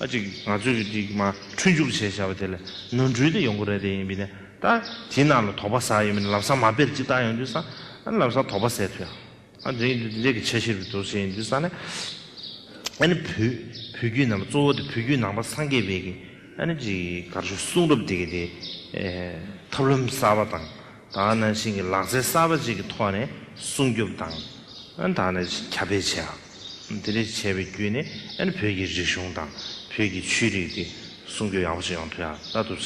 Speaker 1: ཨ་ཅིག་ང་ཚོས་གི་ཅིག་མ་འཁྲུལ་འཇུག་བྱས་བཞག་པ་དེ་ལ་ནོར་འཁྲུལ་དེ་ཡོང་གི་རེད་དེ་ཡིན་པས་ན་ད་དེའི་ནང་ལ་དོགས་པ་ཟ་ཡོད་མེད་ལམ་སང་མ་དཔེར་ཅིག་བལྟ་ཡོང་དུས་བསམ་ཨ་ལམ་སང་དོགས་པ་ཟད་ཐུ་ཡང་ཨ་འདི་འདི་འདྲས་གི་ཆ་ཤེས་རུ་འགྲོ་ཟེར་ཡོང་དུས་བསམ་ནས་ཨ་ནི་བུ་བུ་རྒྱུད་རྣམས་གཙོ་བོ་དེ་བུ་རྒྱུད་ནང་པ་སངས་རྒྱས་དཔལ་གི་ཨ་ནི་ཅིག་གར་ཞུ་གསུང་རབ་དེ་གི་དེ་ཐབས་ལམ་གསར་བ་དང་ད་ནང་བཞིན་གྱི་ལག་རྩལ་གསར་པ་བཅས་ཀྱི་ཐོག་ནས་སྲུང་སྐྱོབ་དང། ད་ནང་བཞིན་ཁྱབ་སྤེལ་བྱས་ཡོད། དེ་ལས་བྱས་པའི་བརྒྱུད་ནས་བོད་ཀྱི་རིག་གཞུང་དང་བོད་ཀྱི་ཆོས་རིག་དེ་སྲུང་སྐྱོབ་ཡག་པོ་བྱེད་ཡོང་ཐུབ་ཡག་ད་ཐུབ་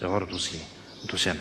Speaker 1: རེ་བ་རུ་འདུག་ཟེར་གྱི་འདུག་བྱས་ན།